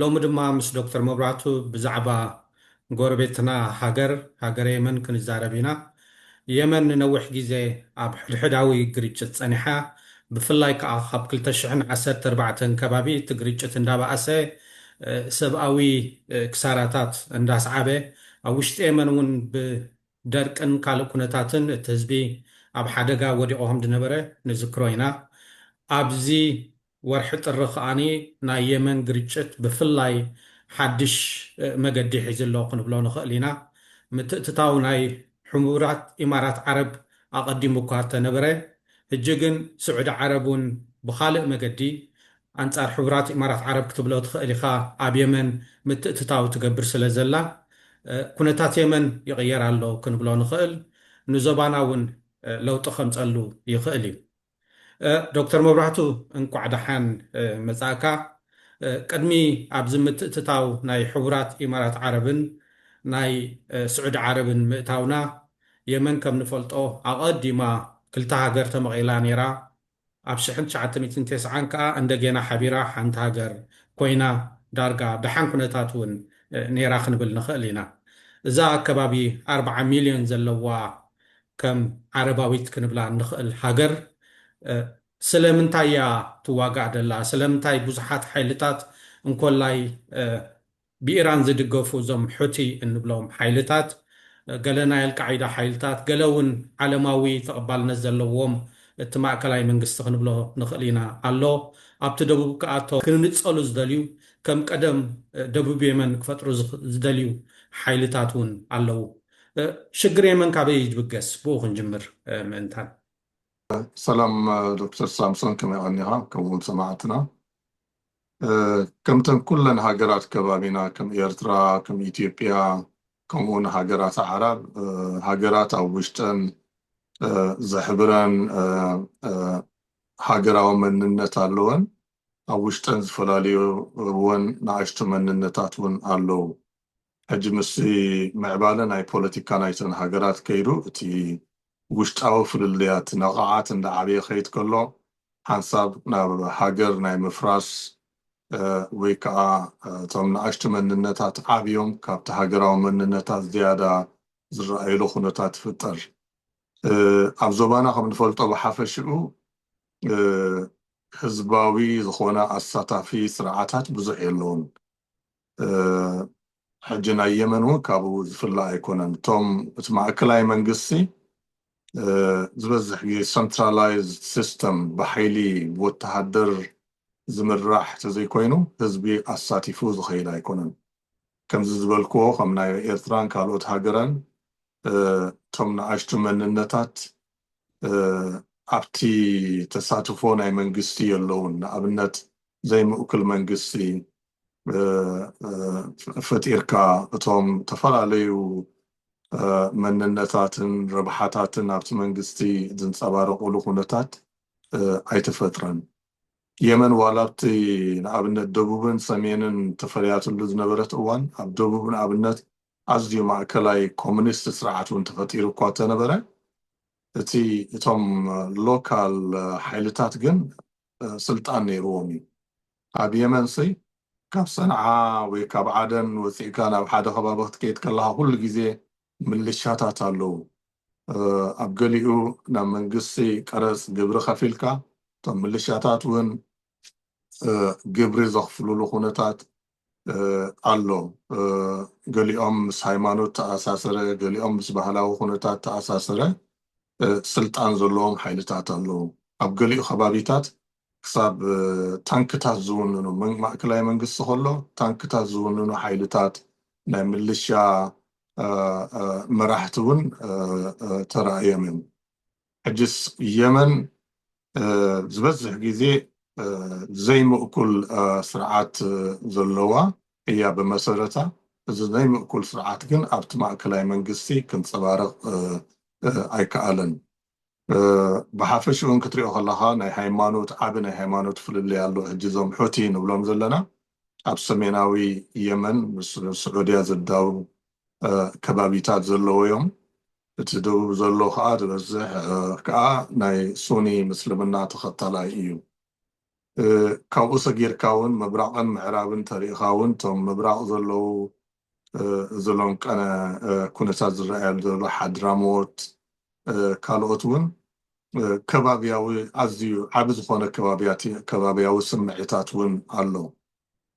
ሎሚ ድማ ምስ ዶክተር መብራህቱ ብዛዕባ ጎረቤትና ሃገር ሃገረ የመን ክንዛረብ ኢና። የመን ንነዊሕ ግዜ ኣብ ሕድሕዳዊ ግርጭት ጸኒሓ ብፍላይ ከኣ ካብ ክልተ ሽሕን ዓሰርተ ኣርባዕተን ከባቢ እቲ ግርጭት እንዳበኣሰ ሰብኣዊ ክሳራታት እንዳስዓበ ኣብ ውሽጢ የመን እውን ብደርቅን ካልእ ኩነታትን እቲ ህዝቢ ኣብ ሓደጋ ወዲቑ ከምዝነበረ ንዝክሮ ኢና። ኣብዚ ወርሒ ጥሪ ከኣ ናይ የመን ግርጭት ብፍላይ ሓድሽ መገዲ ሒዙ ኣሎ ክንብሎ ንኽእል ኢና። ምትእትታው ናይ ሕቡራት ኢማራት ዓረብ ኣቐዲሙ እኳ እንተነበረ፣ ሕጂ ግን ስዑዲ ዓረብ እውን ብኻልእ መገዲ፣ ኣንጻር ሕቡራት ኢማራት ዓረብ ክትብሎ ትኽእል ኢኻ፣ ኣብ የመን ምትእትታው ትገብር ስለ ዘላ፣ ኩነታት የመን ይቕየር ኣሎ ክንብሎ ንኽእል። ንዞባና እውን ለውጢ ከምጸሉ ይኽእል እዩ። ዶክተር መብራህቱ እንኳዕ ደሓን መፃእካ ቅድሚ ኣብዚ ምትእትታው ናይ ሕቡራት ኢማራት ዓረብን ናይ ስዑዲ ዓረብን ምእታውና የመን ከም ንፈልጦ ኣቐዲማ ክልተ ሃገር ተመቒላ ነይራ ኣብ ሽሕን ትሽዓተ ሚእትን ቴስዓን ከኣ እንደጌና ሓቢራ ሓንቲ ሃገር ኮይና ዳርጋ ደሓን ኩነታት እውን ነይራ ክንብል ንኽእል ኢና እዛ ኣከባቢ ኣርብዓ ሚልዮን ዘለዋ ከም ዓረባዊት ክንብላ እንኽእል ሃገር ስለምንታይ እያ ትዋጋእ ዘላ? ስለምንታይ ብዙሓት ሓይልታት እንኮላይ ብኢራን ዝድገፉ እዞም ሑቲ እንብሎም ሓይልታት፣ ገለ ናይ ኣልቃዒዳ ሓይልታት፣ ገለ እውን ዓለማዊ ተቐባልነት ዘለዎም እቲ ማእከላይ መንግስቲ ክንብሎ ንኽእል ኢና ኣሎ፣ ኣብቲ ደቡብ ከኣ እቶም ክንጸሉ ዝደልዩ ከም ቀደም ደቡብ የመን ክፈጥሩ ዝደልዩ ሓይልታት እውን ኣለዉ። ሽግር የመን ካበይ እዩ ዝብገስ ብኡ ክንጅምር ምእንታን። ሰላም ዶክተር ሳምሶን ከመይ ቀኒኻ ከምኡ ውን ሰማዕትና ከምተን ኩለን ሃገራት ከባቢና ከም ኤርትራ ከም ኢትዮጵያ ከምኡ ውን ሃገራት ኣዕራብ ሃገራት ኣብ ውሽጠን ዘሕብረን ሃገራዊ መንነት ኣለወን ኣብ ውሽጠን ዝፈላልዩወን ንኣሽቱ መንነታት ውን ኣለዉ ሕጂ ምስ ምዕባለ ናይ ፖለቲካ ናይተን ሃገራት ከይዱ እቲ ውሽጣዊ ፍልልያት ነቓዓት እንዳዓበየ ክኸይድ ከሎ ሓንሳብ ናብ ሃገር ናይ ምፍራስ ወይ ከኣ እቶም ንኣሽቱ መንነታት ዓብዮም ካብቲ ሃገራዊ መንነታት ዝያዳ ዝረኣዩሉ ኩነታት ይፍጠር። ኣብ ዞባና ከም ንፈልጦ ብሓፈሽኡ ህዝባዊ ዝኾነ ኣሳታፊ ስርዓታት ብዙሕ የለዉን። ሕጂ ናይ የመን ውን ካብኡ ዝፍለ ኣይኮነን እቶም እቲ ማእከላይ መንግስቲ ዝበዝሕ ግዜ ሰንትራላይዝድ ሲስተም ብሓይሊ ብወተሃደር ዝምራሕ ተዘይኮይኑ ህዝቢ ኣሳቲፉ ዝኸይድ ኣይኮነን ከምዚ ዝበልክዎ ከም ናይ ኤርትራን ካልኦት ሃገራን እቶም ንኣሽቱ መንነታት ኣብቲ ተሳትፎ ናይ መንግስቲ የለዉን። ንኣብነት ዘይምእኩል መንግስቲ ፈጢርካ እቶም ዝተፈላለዩ መንነታትን ረብሓታትን ኣብቲ መንግስቲ ዝንፀባረቑሉ ኩነታት ኣይተፈጥረን። የመን ዋላ ኣብቲ ንኣብነት ደቡብን ሰሜንን ተፈልያትሉ ዝነበረት እዋን ኣብ ደቡብ ንኣብነት ኣዝዩ ማእከላይ ኮሚኒስት ስርዓት እውን ተፈጢሩ እኳ እተነበረ፣ እቲ እቶም ሎካል ሓይልታት ግን ስልጣን ነይርዎም እዩ። ኣብ የመንሲ ካብ ሰንዓ ወይ ካብ ዓደን ወጺእካ ናብ ሓደ ከባቢ ክትከይድ ከለኻ ኩሉ ግዜ ምልሻታት ኣለዉ። ኣብ ገሊኡ ናብ መንግስቲ ቀረጽ ግብሪ ከፊልካ እቶም ምልሻታት እውን ግብሪ ዘኽፍሉሉ ኩነታት ኣሎ። ገሊኦም ምስ ሃይማኖት ተኣሳሰረ፣ ገሊኦም ምስ ባህላዊ ኩነታት ተኣሳሰረ ስልጣን ዘለዎም ሓይልታት ኣለዉ። ኣብ ገሊኡ ከባቢታት ክሳብ ታንክታት ዝውንኑ፣ ማእከላይ መንግስቲ ከሎ ታንክታት ዝውንኑ ሓይልታት፣ ናይ ምልሻ መራሕቲ እውን ተራእዮም እዮም። ሕጅስ የመን ዝበዝሕ ግዜ ዘይምእኩል ስርዓት ዘለዋ እያ ብመሰረታ። እዚ ዘይምእኩል ስርዓት ግን ኣብቲ ማእከላይ መንግስቲ ክንጸባረቕ ኣይከኣለን። ብሓፈሽኡን ክትሪኦ ከለኻ ናይ ሃይማኖት ዓቢ ናይ ሃይማኖት ፍልልይ ኣሎ። ሕጂ እዞም ሑቲ ንብሎም ዘለና ኣብ ሰሜናዊ የመን ምስ ስዑድያ ዝዳወብ ከባቢታት ዘለዉ'ዮም። እቲ ደቡብ ዘሎ ከኣ ዝበዝሕ ከኣ ናይ ሱኒ ምስልምና ተኸታላይ እዩ። ካብኡ ሰጊርካ እውን ምብራቕን ምዕራብን ተሪእኻ እውን እቶም ምብራቕ ዘለዉ ዝሎንቀነ ኩነታት ዝረኣየሉ ዘሎ ሓድራሞት ካልኦት እውን ከባብያዊ ኣዝዩ ዓቢ ዝኾነ ከባብያዊ ስምዒታት እውን ኣሎ።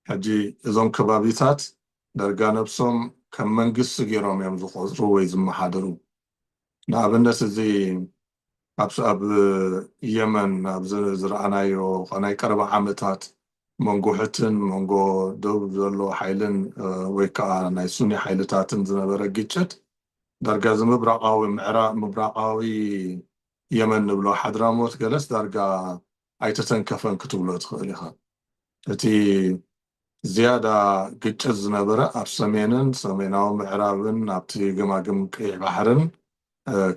ሕጂ እዞም ከባቢታት ዳርጋ ነብሶም ከም መንግስቲ ጌሮም እዮም ዝቆጽሩ ወይ ዝመሓደሩ ንኣብነት እዚ ኣብ ኣብ የመን ኣብ ዝረኣናዮ ናይ ቀረባ ዓመታት መንጎ ሕትን መንጎ ደቡብ ዘሎ ሓይልን ወይ ከኣ ናይ ሱኒ ሓይልታትን ዝነበረ ግጭት ዳርጋ እዚ ምብራቃዊ ምዕራብ ምብራቃዊ የመን ንብሎ ሓድራሞት ገለስ ዳርጋ ኣይተተንከፈን ክትብሎ ትኽእል ኢኻ እቲ ዝያዳ ግጭት ዝነበረ ኣብ ሰሜንን ሰሜናዊ ምዕራብን ኣብቲ ገማግም ቀይሕ ባሕርን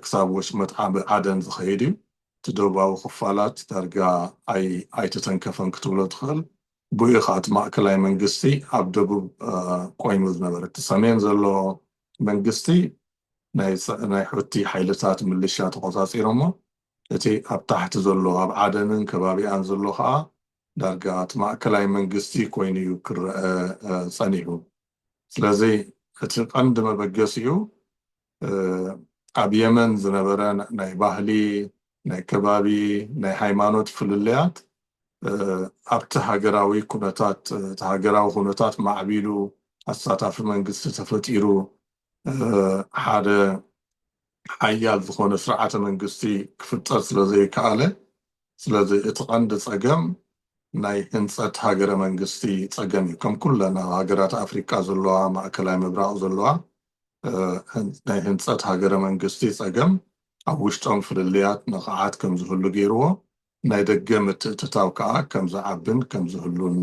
ክሳብ ወሽመጥ ዓቢ ዓደን ዝኸይድ እዩ። እቲ ደቡባዊ ክፋላት ዳርጋ ኣይተተንከፈን ክትብሎ ትኽእል። ብኡ እዩ ኸኣ እቲ ማእከላይ መንግስቲ ኣብ ደቡብ ቈይሙ ዝነበረ። እቲ ሰሜን ዘሎ መንግስቲ ናይ ሑቲ ሓይልታት ምልሻ ተቖጻጺሮሞ፣ እቲ ኣብ ታሕቲ ዘሎ ኣብ ዓደንን ከባቢኣን ዘሎ ከኣ ዳርጋ እቲ ማእከላይ መንግስቲ ኮይኑ እዩ ክረኣ ጸኒሑ። ስለዚ እቲ ቀንዲ መበገሲኡ ኣብ የመን ዝነበረ ናይ ባህሊ፣ ናይ ከባቢ፣ ናይ ሃይማኖት ፍልልያት ኣብቲ ሃገራዊ ኩነታት እቲ ሃገራዊ ኩነታት ማዕቢሉ ኣሳታፊ መንግስቲ ተፈጢሩ ሓደ ሓያል ዝኾነ ስርዓተ መንግስቲ ክፍጠር ስለ ዘይከኣለ፣ ስለዚ እቲ ቀንዲ ጸገም ናይ ህንጸት ሃገረ መንግስቲ ጸገም እዩ። ከም ኩለን ኣብ ሃገራት ኣፍሪቃ ዘለዋ፣ ማእከላይ ምብራቕ ዘለዋ ናይ ህንጸት ሃገረ መንግስቲ ጸገም ኣብ ውሽጦም ፍልልያት ነቓዓት ከም ዝህሉ ገይርዎ፣ ናይ ደገ ምትእትታው ከኣ ከም ዝዓብን ከም ዝህሉን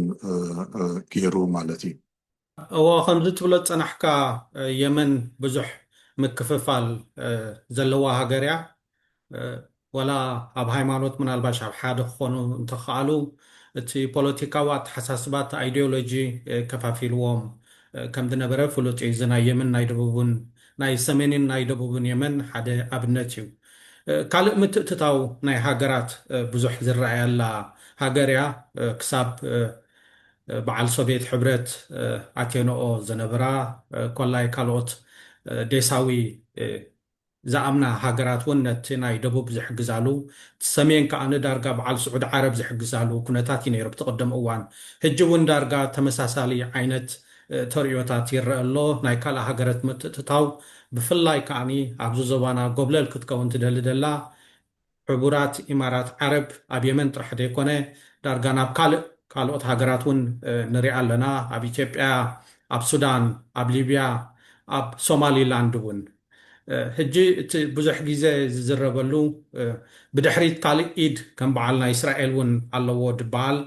ገይሩ ማለት እዩ። እዎ ከምዚ ትብሎ ዝጸናሕካ የመን ብዙሕ ምክፍፋል ዘለዋ ሃገር እያ ወላ ኣብ ሃይማኖት ምናልባሽ ኣብ ሓደ ክኾኑ እንተኸኣሉ እቲ ፖለቲካዊ ኣተሓሳስባ እቲ ኣይዲዮሎጂ ከፋፊልዎም ከምዝነበረ ፍሉጥ እዩ እዚ ናይ የመን ናይ ደቡብን ናይ ሰሜንን ናይ ደቡብን የመን ሓደ ኣብነት እዩ ካልእ ምትእትታው ናይ ሃገራት ብዙሕ ዝረኣየላ ሃገር እያ ክሳብ በዓል ሶቬት ሕብረት ኣቴንኦ ዝነበራ ኮላይ ካልኦት ዴሳዊ ዝኣምና ሃገራት እውን ነቲ ናይ ደቡብ ዝሕግዛሉ እቲ ሰሜን ከኣ ንዳርጋ በዓል ስዑድ ዓረብ ዝሕግዛሉ ኩነታት እዩ ነይሩ ኣብቲ ቅድም እዋን። ሕጂ እውን ዳርጋ ተመሳሳሊ ዓይነት ተርእዮታት ይረኣ ኣሎ። ናይ ካልእ ሃገረት ምትእትታው ብፍላይ ከኣ ኣብዚ ዞባና ጎብለል ክትከውን ትደሊ ደላ ሕቡራት ኢማራት ዓረብ ኣብ የመን ጥራሕ ዘይኮነ ዳርጋ ናብ ካልእ ካልኦት ሃገራት ውን ንሪኣ ኣለና ኣብ ኢትዮጵያ ኣብ ሱዳን ኣብ ሊብያ ኣብ ሶማሊ ላንድ ውን ሕጂ እቲ ብዙሕ ግዜ ዝዝረበሉ ብድሕሪት ካልእ ኢድ ከም በዓል ናይ እስራኤል ውን ኣለዎ ድበሃል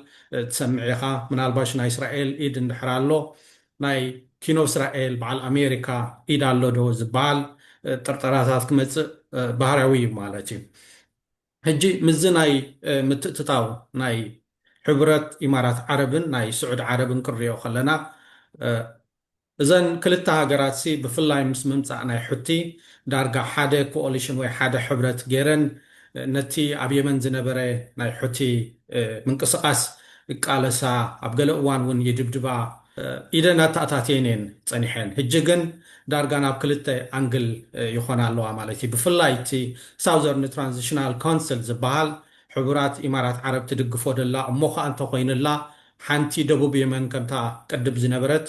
ትሰምዕ ኢኻ ምናልባሽ ናይ እስራኤል ኢድ እንድሕር ኣሎ ናይ ኪኖ እስራኤል በዓል ኣሜሪካ ኢድ ኣሎ ዶ ዝበሃል ጥርጠራታት ክመጽእ ባህርያዊ እዩ ማለት እዩ። ሕጂ ምስዚ ናይ ምትእትታው ናይ ሕቡረት ኢማራት ዓረብን ናይ ስዑዲ ዓረብን ክንሪኦ ከለና እዘን ክልተ ሃገራትሲ ብፍላይ ምስ ምምጻእ ናይ ሑቲ ዳርጋ ሓደ ኮኦሊሽን ወይ ሓደ ሕብረት ገይረን ነቲ ኣብ የመን ዝነበረ ናይ ሑቲ ምንቅስቓስ ይቃለሳ፣ ኣብ ገለ እዋን እውን ይድብድባ፣ ኢደን ኣተኣታትየን እየን ጸኒሐን። ሕጂ ግን ዳርጋ ናብ ክልተ ኣንግል ይኾና ኣለዋ ማለት እዩ። ብፍላይ እቲ ሳውዘርን ትራንዚሽናል ካውንስል ዝበሃል ሕቡራት ኢማራት ዓረብ ትድግፎ ደላ እሞ ኸኣ እንተኾይኑላ ሓንቲ ደቡብ የመን ከምታ ቅድም ዝነበረት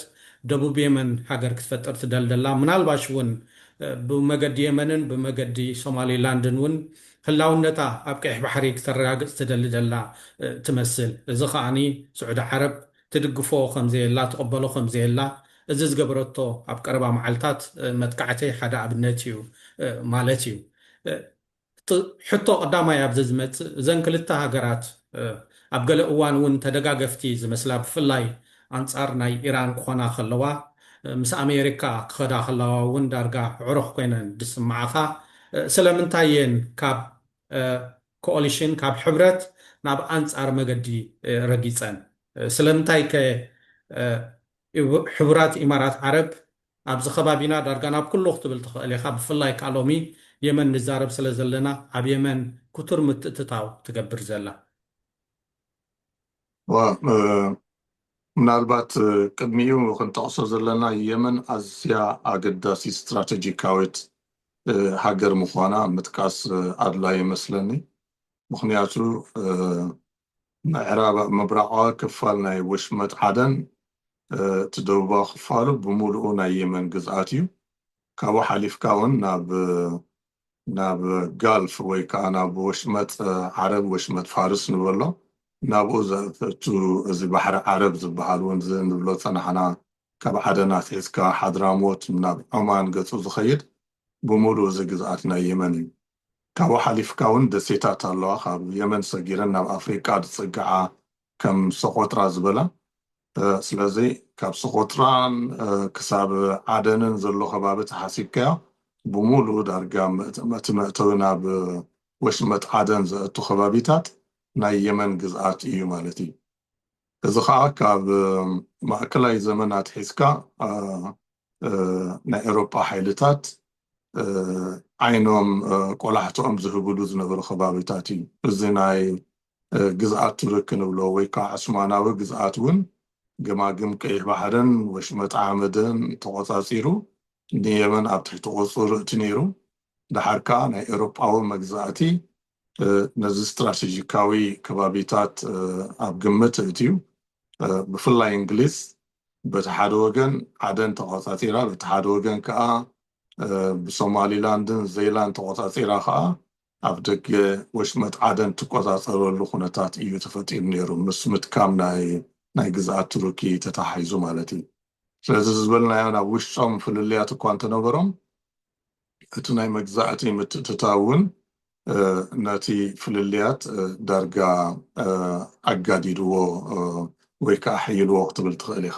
ደቡብ የመን ሃገር ክትፈጥር ትደልደላ ምናልባሽ ውን ብመገዲ የመንን ብመገዲ ሶማሊ ላንድን ውን ህላውነታ ኣብ ቀይሕ ባሕሪ ክተረጋግጽ ትደሊ ደላ ትመስል እዚ ከኣ ስዑዲ ዓረብ ትድግፎ ከምዘየላ ትቕበሎ ከምዘየላ እዚ ዝገበረቶ ኣብ ቀረባ መዓልታት መጥቃዕቲ ሓደ ኣብነት ኢዩ ማለት ኢዩ። እቲ ሕቶ ቀዳማይ ኣብዚ ዝመጽእ እዘን ክልተ ሃገራት ኣብ ገለ እዋን እውን ተደጋገፍቲ ዝመስላ ብፍላይ ኣንጻር ናይ ኢራን ክኾና ከለዋ ምስ ኣሜሪካ ክኸዳ ከለዋ እውን ዳርጋ ኣዕሩኽ ኮይነን ዝስምዓኻ ስለምንታይ እየን ካብ ኮኦሊሽን ካብ ሕብረት ናብ ኣንጻር መገዲ ረጊጸን ስለምንታይ ከ ሕቡራት ኢማራት ዓረብ ኣብዚ ከባቢና ዳርጋ ናብ ኩሉ ክትብል ትኽእል ኢኻ ብፍላይ ከኣ ሎሚ የመን ንዛረብ ስለ ዘለና ኣብ የመን ኩቱር ምትእትታው ትገብር ዘላ። ዋእ ምናልባት ቅድሚኡ ክንጠቕሶ ዘለና የመን ኣዝያ ኣገዳሲት ስትራተጂካዊት ሃገር ምዃና ምጥቃስ ኣድላይ እመስለኒ ምኽንያቱ ምዕራብ ምብራቓዊ ክፋል ናይ ወሽመጥ ዓደን፣ እቲ ደቡባዊ ክፋሉ ብምሉኡ ናይ የመን ግዝኣት እዩ። ካብኡ ሓሊፍካ ውን ናብ ናብ ጋልፍ ወይ ከኣ ናብ ወሽመጥ ዓረብ፣ ወሽመጥ ፋርስ ንበሎ፣ ናብኡ ዘእቱ እዚ ባሕሪ ዓረብ ዝበሃል ውን እዚ ንብሎ ዝጸናሕና ካብ ዓደን ኣትሒዝካ ሓድራሞት ናብ ዖማን ገጹ ዝኸይድ ብምሉኡ እዚ ግዝኣት ናይ የመን እዩ። ካብኡ ሓሊፍካ ውን ደሴታት ኣለዋ ካብ የመን ሰጊረን ናብ ኣፍሪቃ ዝጽግዓ ከም ሶቆጥራ ዝበላ ስለዚ ካብ ሶቆጥራ ክሳብ ዓደንን ዘሎ ከባቢ ተሓሲብካዮ ብሙሉኡ ዳርጋ እቲ መእተዊ ናብ ወሽመጥ ዓደን ዘእቱ ከባቢታት ናይ የመን ግዝኣት ኢዩ ማለት ኢዩ። እዚ ኸኣ ካብ ማእከላይ ዘመን ኣትሒዝካ ናይ ኤውሮጳ ሓይልታት ዓይኖም ቆላሕትኦም ዝህብሉ ዝነበሩ ከባቢታት እዩ። እዚ ናይ ግዝኣት ቱርክ ንብሎ ወይ ከኣ ዑስማናዊ ግዝኣት እውን ገማግም ቀይሕ ባሕርን ወሽመጥ ዓመድን ተቖጻጺሩ ንየመን ኣብ ትሕቲ ቁጽጽሩ እእቲ ነይሩ። ደሓር ከኣ ናይ ኤውሮጳዊ መግዛእቲ ነዚ ስትራቴጂካዊ ከባቢታት ኣብ ግምት ኣእትዩ ብፍላይ እንግሊዝ በቲ ሓደ ወገን ዓደን ተቖጻጺራ በቲ ሓደ ወገን ከኣ ብሶማሊላንድን ዘይላን ተቖጻጺራ ከኣ ኣብ ደገ ወሽመጥ ዓደን ትቆጻጸረሉ ኩነታት እዩ ተፈጢሩ ነይሩ ምስ ምትካም ናይ ናይ ግዝኣት ቱርኪ ተተሓሒዙ ማለት እዩ ስለዚ ዝበልናዮ ናብ ውሽጦም ፍልልያት እኳ እንተነበሮም እቲ ናይ መግዛእቲ ምትእትታው እውን ነቲ ፍልልያት ዳርጋ ኣጋዲድዎ ወይ ከኣ ኣሐይልዎ ክትብል ትኽእል ኢኻ።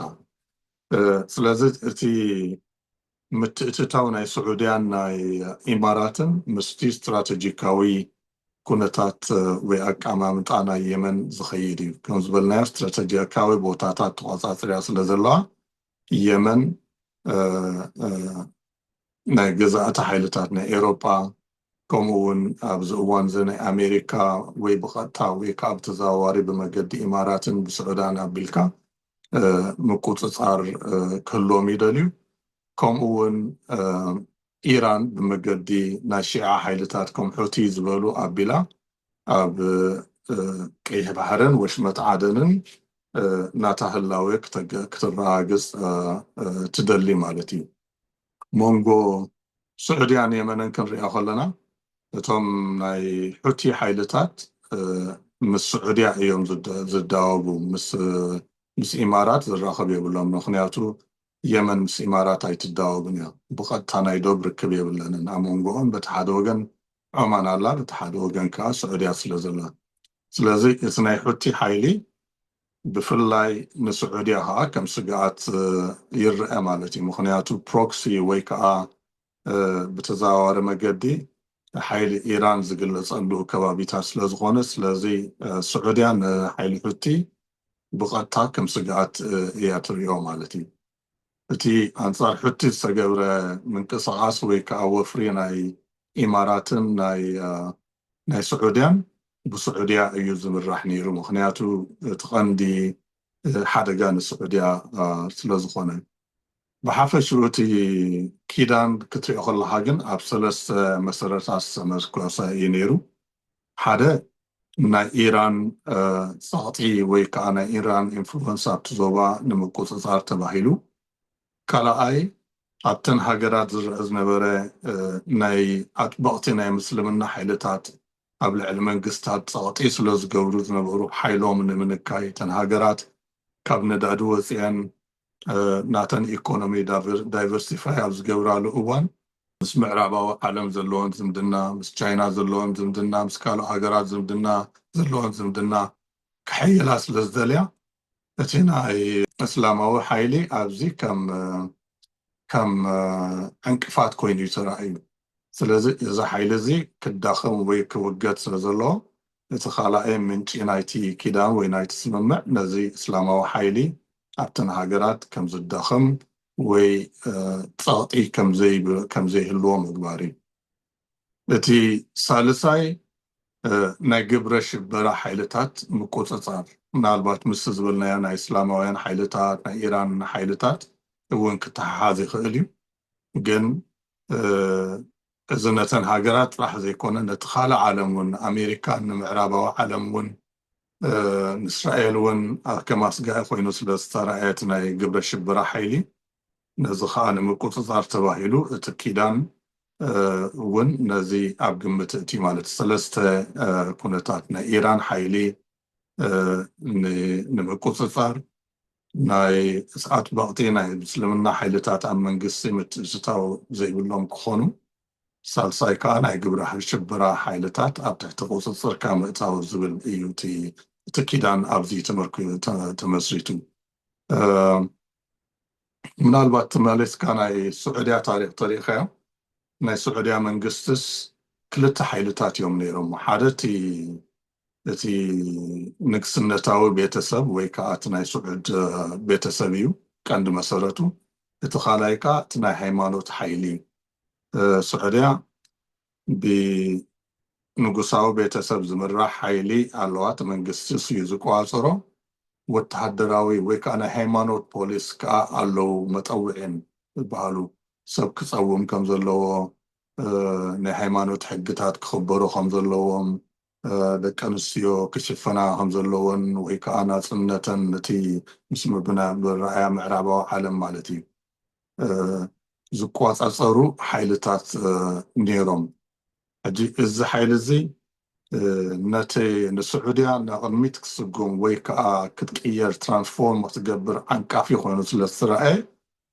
ስለዚ እቲ ምትእትታው ናይ ስዑድያን ናይ ኢማራትን ምስቲ ስትራተጂካዊ ኩነታት ወይ ኣቀማምጣ ናይ የመን ዝኸይድ እዩ። ከም ዝበልናዮ ስትራተጂካዊ ቦታታት ተቖጻጽርያ ስለ ዘለዋ የመን ናይ ገዛእቲ ሓይልታት ናይ ኤሮጳ ከምኡ ውን ኣብዚ እዋን እዚ ናይ ኣሜሪካ ወይ ብቀጥታ ወይ ከኣ ብተዘዋዋሪ ብመገዲ ኢማራትን ብስዑዳን ኣቢልካ ምቁጽጻር ክህልዎም ይደልዩ ከምኡ ውን ኢራን ብመገዲ ናይ ሺዓ ሓይልታት ከም ሑቲ ዝበሉ ኣቢላ ኣብ ቀይሕ ባሕርን ወሽመጥ ዓደንን ናታ ህላዌ ክተረጋግጽ ትደሊ ማለት እዩ። ሞንጎ ሱዑድያን የመንን ክንሪኣ ከለና እቶም ናይ ሑቲ ሓይልታት ምስ ሱዑድያ እዮም ዝዳወቡ ምስ ኢማራት ዝራከብ የብሎምን ምክንያቱ የመን ምስ ኢማራት ኣይትዳወብን እያ ብቀጥታ ናይ ዶብ ርክብ የብለንን ኣሞንጎኦም በቲ ሓደ ወገን ዖማን ኣላ በቲ ሓደ ወገን ከኣ ሱዑድያ ስለ ዘላ ስለዚ እቲ ናይ ሑቲ ሓይሊ ብፍላይ ንስዑድያ ከኣ ከም ስግኣት ይረኣ ማለት እዩ። ምኽንያቱ ፕሮክሲ ወይ ከኣ ብተዘዋዋሪ መገዲ ሓይሊ ኢራን ዝግለጸሉ ከባቢታት ስለ ዝኾነ፣ ስለዚ ስዑድያ ንሓይሊ ሑቲ ብቐጥታ ከም ስግኣት እያ ትርእዮ ማለት እዩ። እቲ ኣንጻር ሑቲ ዝተገብረ ምንቅስቓስ ወይ ከኣ ወፍሪ ናይ ኢማራትን ናይ ስዑድያን ብስዑድያ እዩ ዝምራሕ ነይሩ ምኽንያቱ እቲ ቀንዲ ሓደጋ ንስዑድያ ስለ ዝኾነ። ብሓፈሽኡ እቲ ኪዳን ክትሪኦ ከለኻ ግን ኣብ ሰለስተ መሰረታት ዝተመርኮሰ እዩ ነይሩ። ሓደ ናይ ኢራን ጸቕጢ ወይ ከኣ ናይ ኢራን ኢንፍሉወንስ ኣብቲ ዞባ ንምቁጽጻር ተባሂሉ፣ ካልኣይ ኣብተን ሃገራት ዝርኣ ዝነበረ ናይ ኣጥበቕቲ ናይ ምስልምና ሓይልታት ኣብ ልዕሊ መንግስታት ጸቕጢ ስለዝገብሩ ዝነበሩ ሓይሎም ንምንካይ እተን ሃገራት ካብ ነዳዲ ወጺኤን ናተን ኢኮኖሚ ዳይቨርሲፋይ ኣብ ዝገብራሉ እዋን ምስ ምዕራባዊ ዓለም ዘለወን ዝምድና፣ ምስ ቻይና ዘለወን ዝምድና፣ ምስ ካልእ ሃገራት ዝምድና ዘለወን ዝምድና ከሐይላ ስለ ዝደልያ እቲ ናይ እስላማዊ ሓይሊ ኣብዚ ከም ከም ዕንቅፋት ኮይኑ እዩ ተራእዩ። ስለዚ እዚ ሓይሊ እዚ ክዳኸም ወይ ክውገድ ስለ ዘለዎ እቲ ካልኣይ ምንጪ ናይቲ ኪዳን ወይ ናይቲ ስምምዕ ነዚ እስላማዊ ሓይሊ ኣብተን ሃገራት ከም ዝዳኸም ወይ ጸቕጢ ከም ዘይህልዎ ምግባር እዩ። እቲ ሳልሳይ ናይ ግብረ ሽበራ ሓይልታት ምቁጽጻር፣ ምናልባት ምስቲ ዝበልናዮ ናይ እስላማውያን ሓይልታት፣ ናይ ኢራን ሓይልታት እውን ክተሓሓዝ ይኽእል እዩ። ግን እዚ ነተን ሃገራት ጥራሕ ዘይኮነ ነቲ ካልእ ዓለም እውን ንኣሜሪካን ንምዕራባዊ ዓለም እውን ንእስራኤል እውን ኣብ ከም ኣስጋኢ ኮይኑ ስለ ዝተራእየት ናይ ግብረ ሽበራ ሓይሊ ነዚ ከኣ ንምቁጽጻር ተባሂሉ እቲ ኪዳን እውን ነዚ ኣብ ግምት እእትዩ ማለት እዩ። ሰለስተ ኩነታት ናይ ኢራን ሓይሊ ንምቁጽጻር፣ ናይ ኣጥበቕቲ ናይ ምስልምና ሓይልታት ኣብ መንግስቲ ምትእትታው ዘይብሎም ክኾኑ፣ ሳልሳይ ከኣ ናይ ግብረ ሽበራ ሓይልታት ኣብ ትሕቲ ቁጽጽርካ ምእታው ዝብል እዩ እቲ እቲ ኪዳን ኣብዚ ተመስሪቱ ምናልባት ተመሊስካ ናይ ስዑድያ ታሪክ ተሪእካዮ ናይ ስዑድያ መንግስትስ ክልተ ሓይልታት እዮም ነይሮም ሓደ እቲ እቲ ንግስነታዊ ቤተሰብ ወይ ከዓ እቲ ናይ ስዑድ ቤተሰብ እዩ ቀንዲ መሰረቱ እቲ ካልኣይ ከዓ እቲ ናይ ሃይማኖት ሓይሊ እዩ ሱዕድያ ብንጉሳዊ ቤተሰብ ዝምራሕ ሓይሊ ኣለዋት፣ መንግስቲስ እዩ ዝቆጻጸሮ፣ ወተሃደራዊ ወይ ከኣ ናይ ሃይማኖት ፖሊስ ከኣ ኣለዉ፣ መጠውዒን ዝበሃሉ፣ ሰብ ክጸውም ከም ዘለዎ፣ ናይ ሃይማኖት ሕግታት ክኽበሩ ከም ዘለዎም፣ ደቂ ኣንስትዮ ክሽፈና ከም ዘለወን ወይ ከኣ ናጽነተን እቲ ምስ ምብርራያ ምዕራባዊ ዓለም ማለት እዩ። ዝቆፃፀሩ ሓይልታት ነይሮም ሕጂ እዚ ሓይሊ እዚ ነቲ ንስዑድያ ንቕድሚት ክትስጉም ወይ ከዓ ክትቅየር ትራንስፎርም ክትገብር ዓንቃፊ ኮይኑ ስለ ዝተረኣየ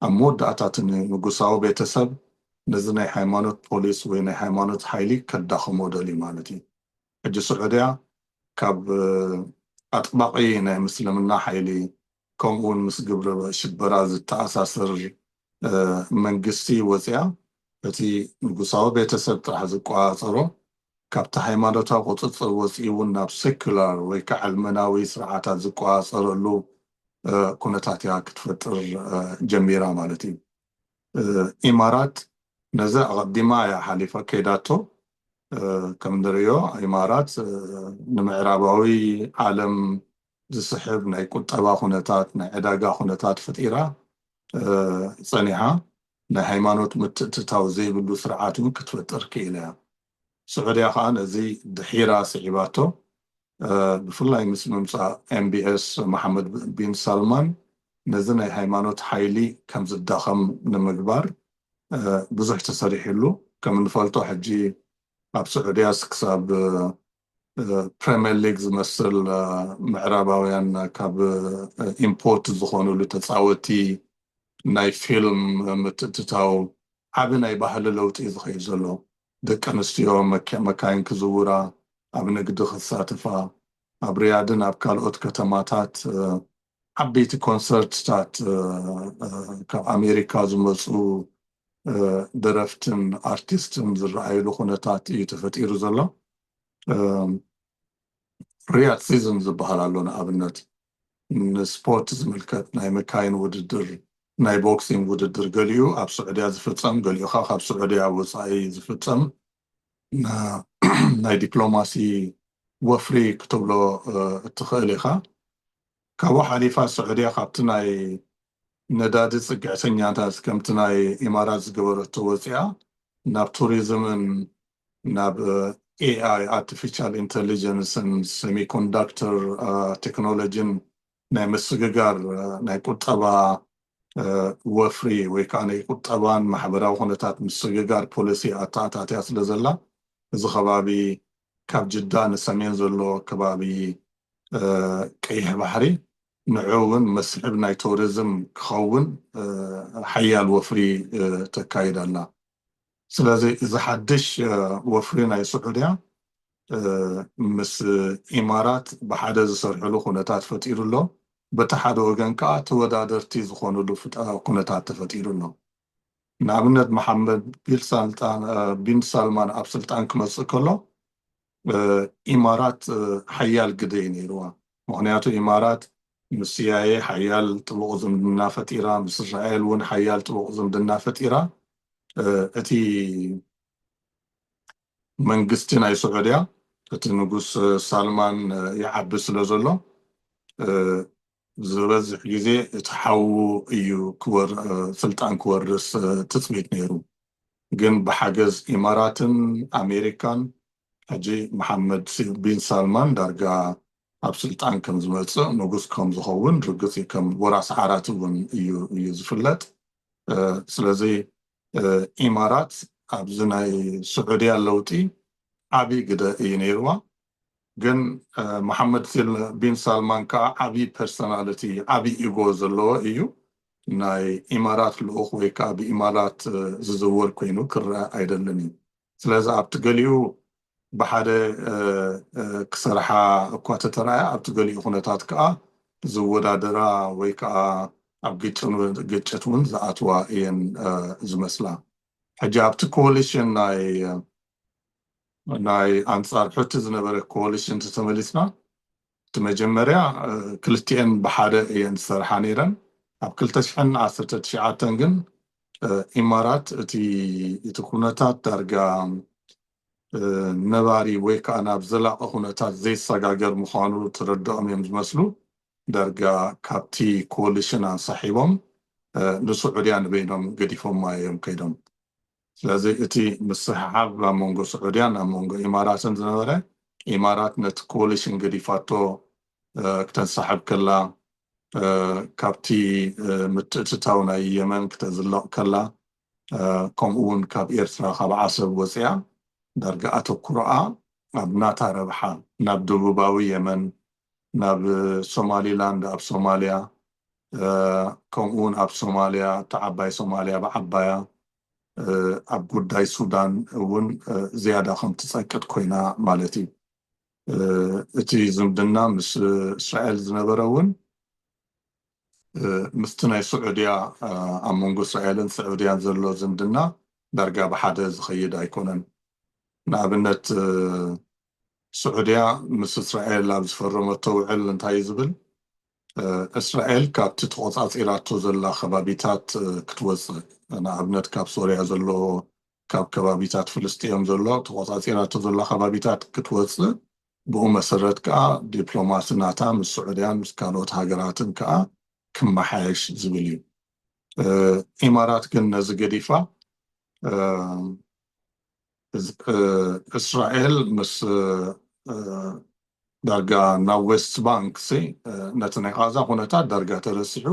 ኣብ መወዳእታ እቲ ንጉሳዊ ቤተሰብ ነዚ ናይ ሃይማኖት ፖሊስ ወይ ናይ ሃይማኖት ሓይሊ ከዳኽሞ ደልዩ ማለት እዩ ሕጂ ስዑድያ ካብ ኣጥባቒ ናይ ምስልምና ሓይሊ ከምኡ ውን ምስ ግብረ ሽበራ ዝተኣሳሰር መንግስቲ ወጺኣ በቲ ንጉሳዊ ቤተሰብ ጥራሕ ዝቆጻጸሮ ካብቲ ሃይማኖታዊ ቁጽጽር ወጺኡ ውን ናብ ሰኩላር ወይ ከኣ ዓልመናዊ ስርዓታት ዝቆጻጸረሉ ኩነታት እያ ክትፈጥር ጀሚራ ማለት እዩ። ኢማራት ነዚ ኣቐዲማ እያ ሓሊፋ ከይዳቶ። ከም ንርእዮ ኢማራት ንምዕራባዊ ዓለም ዝስሕብ ናይ ቁጠባ ኩነታት፣ ናይ ዕዳጋ ኩነታት ፈጢራ ጸኒሓ። ናይ ሃይማኖት ምትእትታው ዘይብሉ ስርዓት እውን ክትፈጥር ክኢላ እያ። ስዑድያ ከኣ ነዚ ድሒራ ስዒባቶ፣ ብፍላይ ምስ ምምጻእ MBS መሓመድ ቢን ሳልማን ነዚ ናይ ሃይማኖት ሓይሊ ከም ዝዳኸም ንምግባር ብዙሕ ተሰሪሕሉ። ከም እንፈልጦ ሕጂ ኣብ ስዑድያስ ክሳብ ፕረምየር ሊግ ዝመስል ምዕራባውያን ካብ ኢምፖርት ዝኾንሉ ተፃወቲ ናይ ፊልም ምትእትታው ዓቢ ናይ ባህሊ ለውጢ እዩ ዝኸይድ ዘሎ ደቂ ኣንስትዮ መካይን ክዝውራ ኣብ ንግዲ ክሳተፋ ኣብ ርያድን ኣብ ካልኦት ከተማታት ዓበይቲ ኮንሰርትታት ካብ ኣሜሪካ ዝመፁ ደረፍትን ኣርቲስትን ዝረኣይሉ ኩነታት እዩ ተፈጢሩ ዘሎ ፍርያት ሲዝን ዝበሃል ኣሎ ንኣብነት ንስፖርት ዝምልከት ናይ መካይን ውድድር ናይ ቦክሲንግ ውድድር ገሊኡ ኣብ ስዑድያ ዝፍፀም ገሊኡ ካብ ስዑድያ ወፃኢ ዝፍፀም ናይ ዲፕሎማሲ ወፍሪ ክትብሎ እትኽእል ኢኻ። ካብኡ ሓሊፋ ስዑድያ ካብቲ ናይ ነዳዲ ፅግዕተኛታት ከምቲ ናይ ኢማራት ዝገበረቶ ወፂኣ ናብ ቱሪዝምን ናብ ኤኣይ ኣርቲፊሻል ኢንተሊጀንስን ሰሚኮንዳክተር ቴክኖሎጂን ናይ ምስግጋር ናይ ቁጠባ ወፍሪ ወይ ከኣ ናይ ቁጠባን ማሕበራዊ ኩነታት ምስግጋር ፖለሲ ኣተኣታትያ ስለ ዘላ እዚ ከባቢ ካብ ጅዳ ንሰሜን ዘሎ ከባቢ ቀይሕ ባሕሪ ንዑ ውን መስሕብ ናይ ቶርዝም ክኸውን ሓያል ወፍሪ ተካይድ ኣላ። ስለዚ እዚ ሓድሽ ወፍሪ ናይ ስዑድያ ምስ ኢማራት ብሓደ ዝሰርሕሉ ኩነታት ፈጢሩ ኣሎ። በቲ ሓደ ወገን ከኣ ተወዳደርቲ ዝኾኑሉ ኩነታት ተፈጢሩ ኣሎ። ንኣብነት መሓመድ ቢን ሳልማን ኣብ ስልጣን ክመጽእ ከሎ ኢማራት ሓያል ግደ እዩ ነይርዋ ምኽንያቱ ኢማራት ምስ ሲኣይኤ ሓያል ጥቡቕ ዝምድና ፈጢራ ምስ እስራኤል እውን ሓያል ጥቡቕ ዝምድና ፈጢራ እቲ መንግስቲ ናይ ሱዑድያ እቲ ንጉስ ሳልማን ይዓቢ ስለ ዘሎ ዝበዝሕ ግዜ እቲ ሓዉ እዩ ስልጣን ክወርስ ትጽቢት ነይሩ፣ ግን ብሓገዝ ኢማራትን ኣሜሪካን ሕጂ መሓመድ ቢን ሳልማን ዳርጋ ኣብ ስልጣን ከም ዝመጽእ ንጉስ ከም ዝኸውን ርግጽ እዩ፣ ከም ወራሲ ዓራት እውን እዩ እዩ ዝፍለጥ፣ ስለዚ ኢማራት ኣብዚ ናይ ስዑድያ ለውጢ ዓቢ ግደ እዩ ነይርዋ። ግን መሓመድ ቢን ሳልማን ከኣ ዓቢ ፐርሰናልቲ ዓቢ ኢጎ ዘለዎ እዩ ናይ ኢማራት ልኡኽ ወይ ከኣ ብኢማራት ዝዝወር ኮይኑ ክረኣ ኣይደልን እዩ ስለዚ ኣብቲ ገሊኡ ብሓደ ክሰርሓ እኳ ተተራእያ ኣብቲ ገሊኡ ኩነታት ከኣ ዝወዳደራ ወይ ከኣ ኣብ ግጭት እውን ዝኣትዋ እየን ዝመስላ ሕጂ ኣብቲ ኮሊሽን ናይ ናይ ኣንጻር ሑቲ ዝነበረ ኮሊሽን ተተመሊስና እቲ መጀመርያ ክልቲኤን ብሓደ እየን ዝሰርሓ ነይረን ኣብ ክልተ ሽሕን ዓሰርተ ትሽዓተን ግን ኢማራት እቲ እቲ ኩነታት ዳርጋ ነባሪ ወይ ከዓ ናብ ዘላቂ ኩነታት ዘይሰጋገር ምዃኑ ተረድኦም እዮም ዝመስሉ ዳርጋ ካብቲ ኮሊሽን ኣንሳሒቦም ንስዑድያ ንበይኖም ገዲፎማ እዮም ከይዶም ስለዚ እቲ ምስሕሓብ ኣብ መንጎ ስዑድያን ኣብ መንጎ ኢማራትን ዝነበረ ኢማራት ነቲ ኮሊሽን ገዲፋቶ ክተንሳሕብ ከላ ካብቲ ምትእትታው ናይ የመን ክተዝልቕ ከላ ከምኡ እውን ካብ ኤርትራ ካብ ዓሰብ ወፂኣ ዳርጋ ኣተኩሮኣ ኣብ ናታ ረብሓ ናብ ደቡባዊ የመን ናብ ሶማሊላንድ ኣብ ሶማልያ ከምኡውን ኣብ ሶማልያ እታ ዓባይ ሶማልያ ብዓባያ ኣብ ጉዳይ ሱዳን እውን ዝያዳ ከም ትጸቅጥ ኮይና ማለት እዩ እቲ ዝምድና ምስ እስራኤል ዝነበረ እውን ምስቲ ናይ ስዑድያ ኣብ መንጎ እስራኤልን ስዑድያን ዘሎ ዝምድና ዳርጋ ብሓደ ዝኸይድ ኣይኮነን ንኣብነት ስዑድያ ምስ እስራኤል ኣብ ዝፈረመቶ ውዕል እንታይ እዩ ዝብል? እስራኤል ካብቲ ተቖጻጺራቶ ዘላ ከባቢታት ክትወጽእ፣ ንኣብነት ካብ ሶርያ ዘሎ፣ ካብ ከባቢታት ፍልስጥኤም ዘሎ ተቖጻጺራቶ ዘላ ከባቢታት ክትወጽእ፣ ብኡ መሰረት ከኣ ዲፕሎማሲ ናታ ምስ ስዑድያን ምስ ካልኦት ሃገራትን ከኣ ክመሓየሽ ዝብል እዩ። ኢማራት ግን ነዚ ገዲፋ፣ እስራኤል ምስ ዳርጋ ናብ ዌስት ባንክ ሲ ነቲ ናይ ቓዛ ኩነታት ዳርጋ ተረሲዑ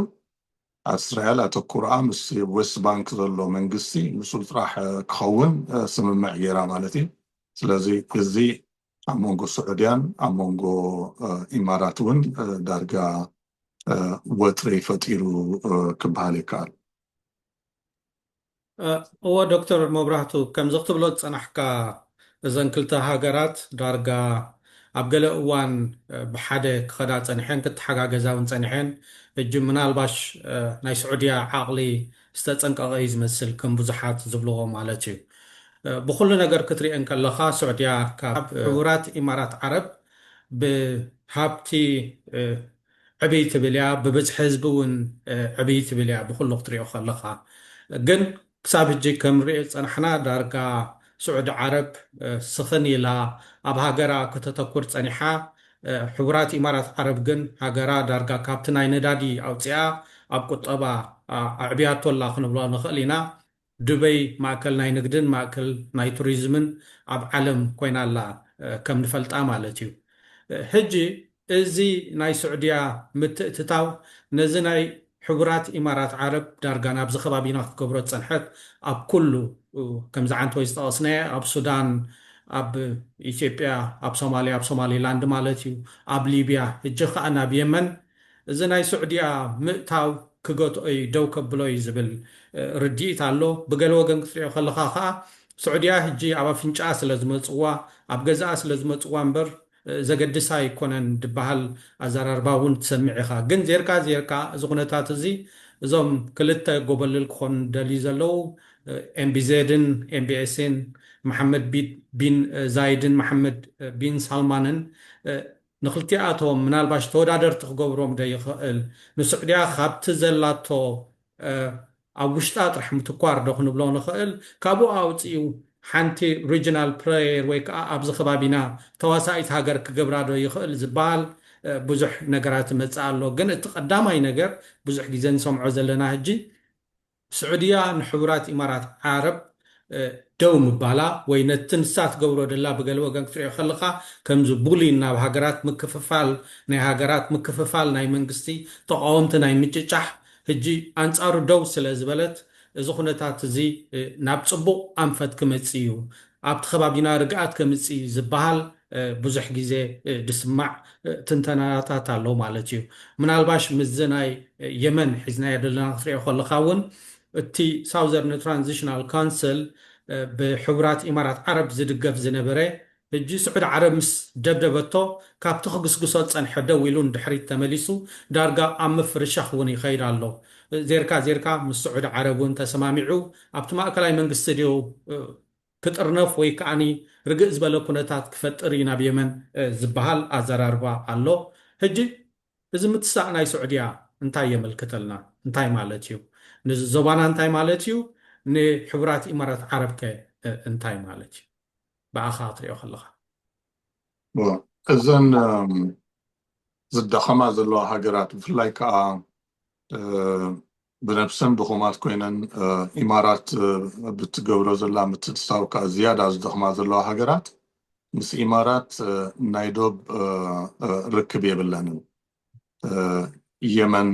ኣስራኤል ኣተኩሮኣ ምስ ዌስት ባንክ ዘሎ መንግስቲ ምስኡ ጥራሕ ክኸውን ስምምዕ ጌራ ማለት እዩ ስለዚ እዚ ኣብ መንጎ ስዑድያን ኣብ መንጎ ኢማራት እውን ዳርጋ ወጥሪ ፈጢሩ ክበሃል ይከኣል። እወ ዶክተር መብራህቱ ከምዚ ክትብሎ ዝጸናሕካ እዘን ክልተ ሃገራት ዳርጋ ኣብ ገለ እዋን ብሓደ ክኸዳ ጸኒሐን ክተሓጋገዛ ውን ጸኒሐን ሕጂ ምናልባሽ ናይ ስዑድያ ዓቕሊ ዝተጸንቀቐ እዩ ዝመስል ከም ብዙሓት ዝብልዎ ማለት እዩ ብኹሉ ነገር ክትሪኤን ከለኻ ስዑድያ ካብ ሕቡራት ኢማራት ዓረብ ብሃብቲ ዕብይ ትብል እያ ብብዝሒ ህዝቢ እውን ዕብይ ትብል እያ ብኹሉ ክትሪኦ ከለኻ ግን ክሳብ ህጂ ከምንሪኦ ዝፀናሕና ዳርጋ ስዑዲ ዓረብ ስኽን ኢላ ኣብ ሃገራ ከተተኩር ፀኒሓ ሕቡራት ኢማራት ዓረብ ግን ሃገራ ዳርጋ ካብቲ ናይ ነዳዲ ኣውፂኣ ኣብ ቁጠባ ኣዕብያቶ ኣላ ክንብሎ ንኽእል ኢና ዱበይ ማእከል ናይ ንግድን ማእከል ናይ ቱሪዝምን ኣብ ዓለም ኮይና ኣላ ከም ንፈልጣ ማለት እዩ ሕጂ እዚ ናይ ሱዕድያ ምትእትታው ነዚ ናይ ሕቡራት ኢማራት ዓረብ ዳርጋ ናብዚ ከባቢና ክትገብሮ ዝጸንሐት ኣብ ኩሉ ከምዚ ዓንተወይ ዝጠቐስናዬ ኣብ ሱዳን ኣብ ኢትዮጵያ ኣብ ሶማልያ ኣብ ሶማሊላንድ ማለት እዩ ኣብ ሊብያ ሕጂ ክኣ ናብ የመን እዚ ናይ ሱዕድያ ምእታው ክገትኦ'ዩ ደው ከብሎ'ዩ ዝብል ርድኢት ኣሎ። ብገለ ወገን ክትሪኦ ከለኻ ከኣ ሱዕድያ ሕጂ ኣብ ኣፍንጭኣ ስለ ዝመጽዋ ኣብ ገዝኣ ስለ ዝመጽዋ እምበር ዘገድሳ ኣይኮነን ድበሃል ኣዘራርባ እውን ትሰምዕ ኢኻ። ግን ዜርካ ዜርካ እዚ ኩነታት እዚ እዞም ክልተ ጎበልል ክኾኑ ዝደልዩ ዘለዉ ኤምቢዜድን፣ ኤምቢኤስን፣ መሓመድ ቢን ዛይድን መሓመድ ቢን ሳልማንን ንክልቲኣቶም ምናልባሽ ተወዳደርቲ ክገብሮም ዶ ይኸእል? ንሱዕድያ ካብቲ ዘላቶ ኣብ ውሽጣ ጥራሕ ምትኳር ዶ ክንብሎ ንኸእል? ካብኡ ኣውጺኡ ሓንቲ ሪጅናል ፕለየር ወይ ከኣ ኣብዚ ከባቢና ተዋሳኢት ሃገር ክገብራ ዶ ይኸእል ዝበሃል ብዙሕ ነገራት ይመጽእ ኣሎ። ግን እቲ ቀዳማይ ነገር ብዙሕ ግዜ ንሰምዖ ዘለና ህጂ፣ ስዑድያ ንሕቡራት ኢማራት ዓረብ ደው ምባላ ወይ ነቲ ንሳ ትገብሮ ደላ ብገለ ወገን ክትሪኦ ከለኻ ከምዚ ቡሊን ናብ ሃገራት ምክፍፋል ናይ ሃገራት ምክፍፋል ናይ መንግስቲ ተቓወምቲ ናይ ምጭጫሕ ህጂ ኣንጻሩ ደው ስለ ዝበለት እዚ ኩነታት እዚ ናብ ጽቡቕ ኣንፈት ክመጽእ እዩ ኣብቲ ከባቢና ርግኣት ከምጽእ እዩ ዝብሃል ብዙሕ ግዜ ዝስማዕ ትንተናናታት ኣሎ ማለት እዩ ምናልባሽ ምስዚ ናይ የመን ሒዝናዮ ዘለና ክትሪኦ ከለኻ እውን እቲ ሳውዘርን ትራንዚሽናል ካውንስል ብሕቡራት ኢማራት ዓረብ ዝድገፍ ዝነበረ ሕጂ ስዑድ ዓረብ ምስ ደብደበቶ ካብቲ ክግስግሶ ዝጸንሐ ደው ኢሉ ንድሕሪት ተመሊሱ ዳርጋ ኣብ ምፍርሻኽ እውን ይኸይድ ኣሎ ዜርካ ዜርካ ምስ ስዑድ ዓረብ እውን ተሰማሚዑ ኣብቲ ማእከላይ መንግስቲ ድዩ ክጥርነፍ ወይ ከኣ ርግእ ዝበለ ኩነታት ክፈጥር እዩ ናብ የመን ዝበሃል ኣዘራርባ ኣሎ። ሕጂ እዚ ምትሳእ ናይ ስዑድያ እንታይ የመልክተልና? እንታይ ማለት እዩ? ንዞባና እንታይ ማለት እዩ? ንሕቡራት ኢማራት ዓረብ ከ እንታይ ማለት እዩ? ብኣኻ ክትሪኦ ከለኻ። እዘን ዝዳኸማ ዘለዋ ሃገራት ብፍላይ ከኣ ብነብሰን ድኹማት ኮይነን ኢማራት ብትገብሮ ዘላ ምትእትታው ከኣ ዝያዳ ዝደኽማ ዘለዋ ሃገራት ምስ ኢማራት ናይ ዶብ ርክብ የብለንን። የመን፣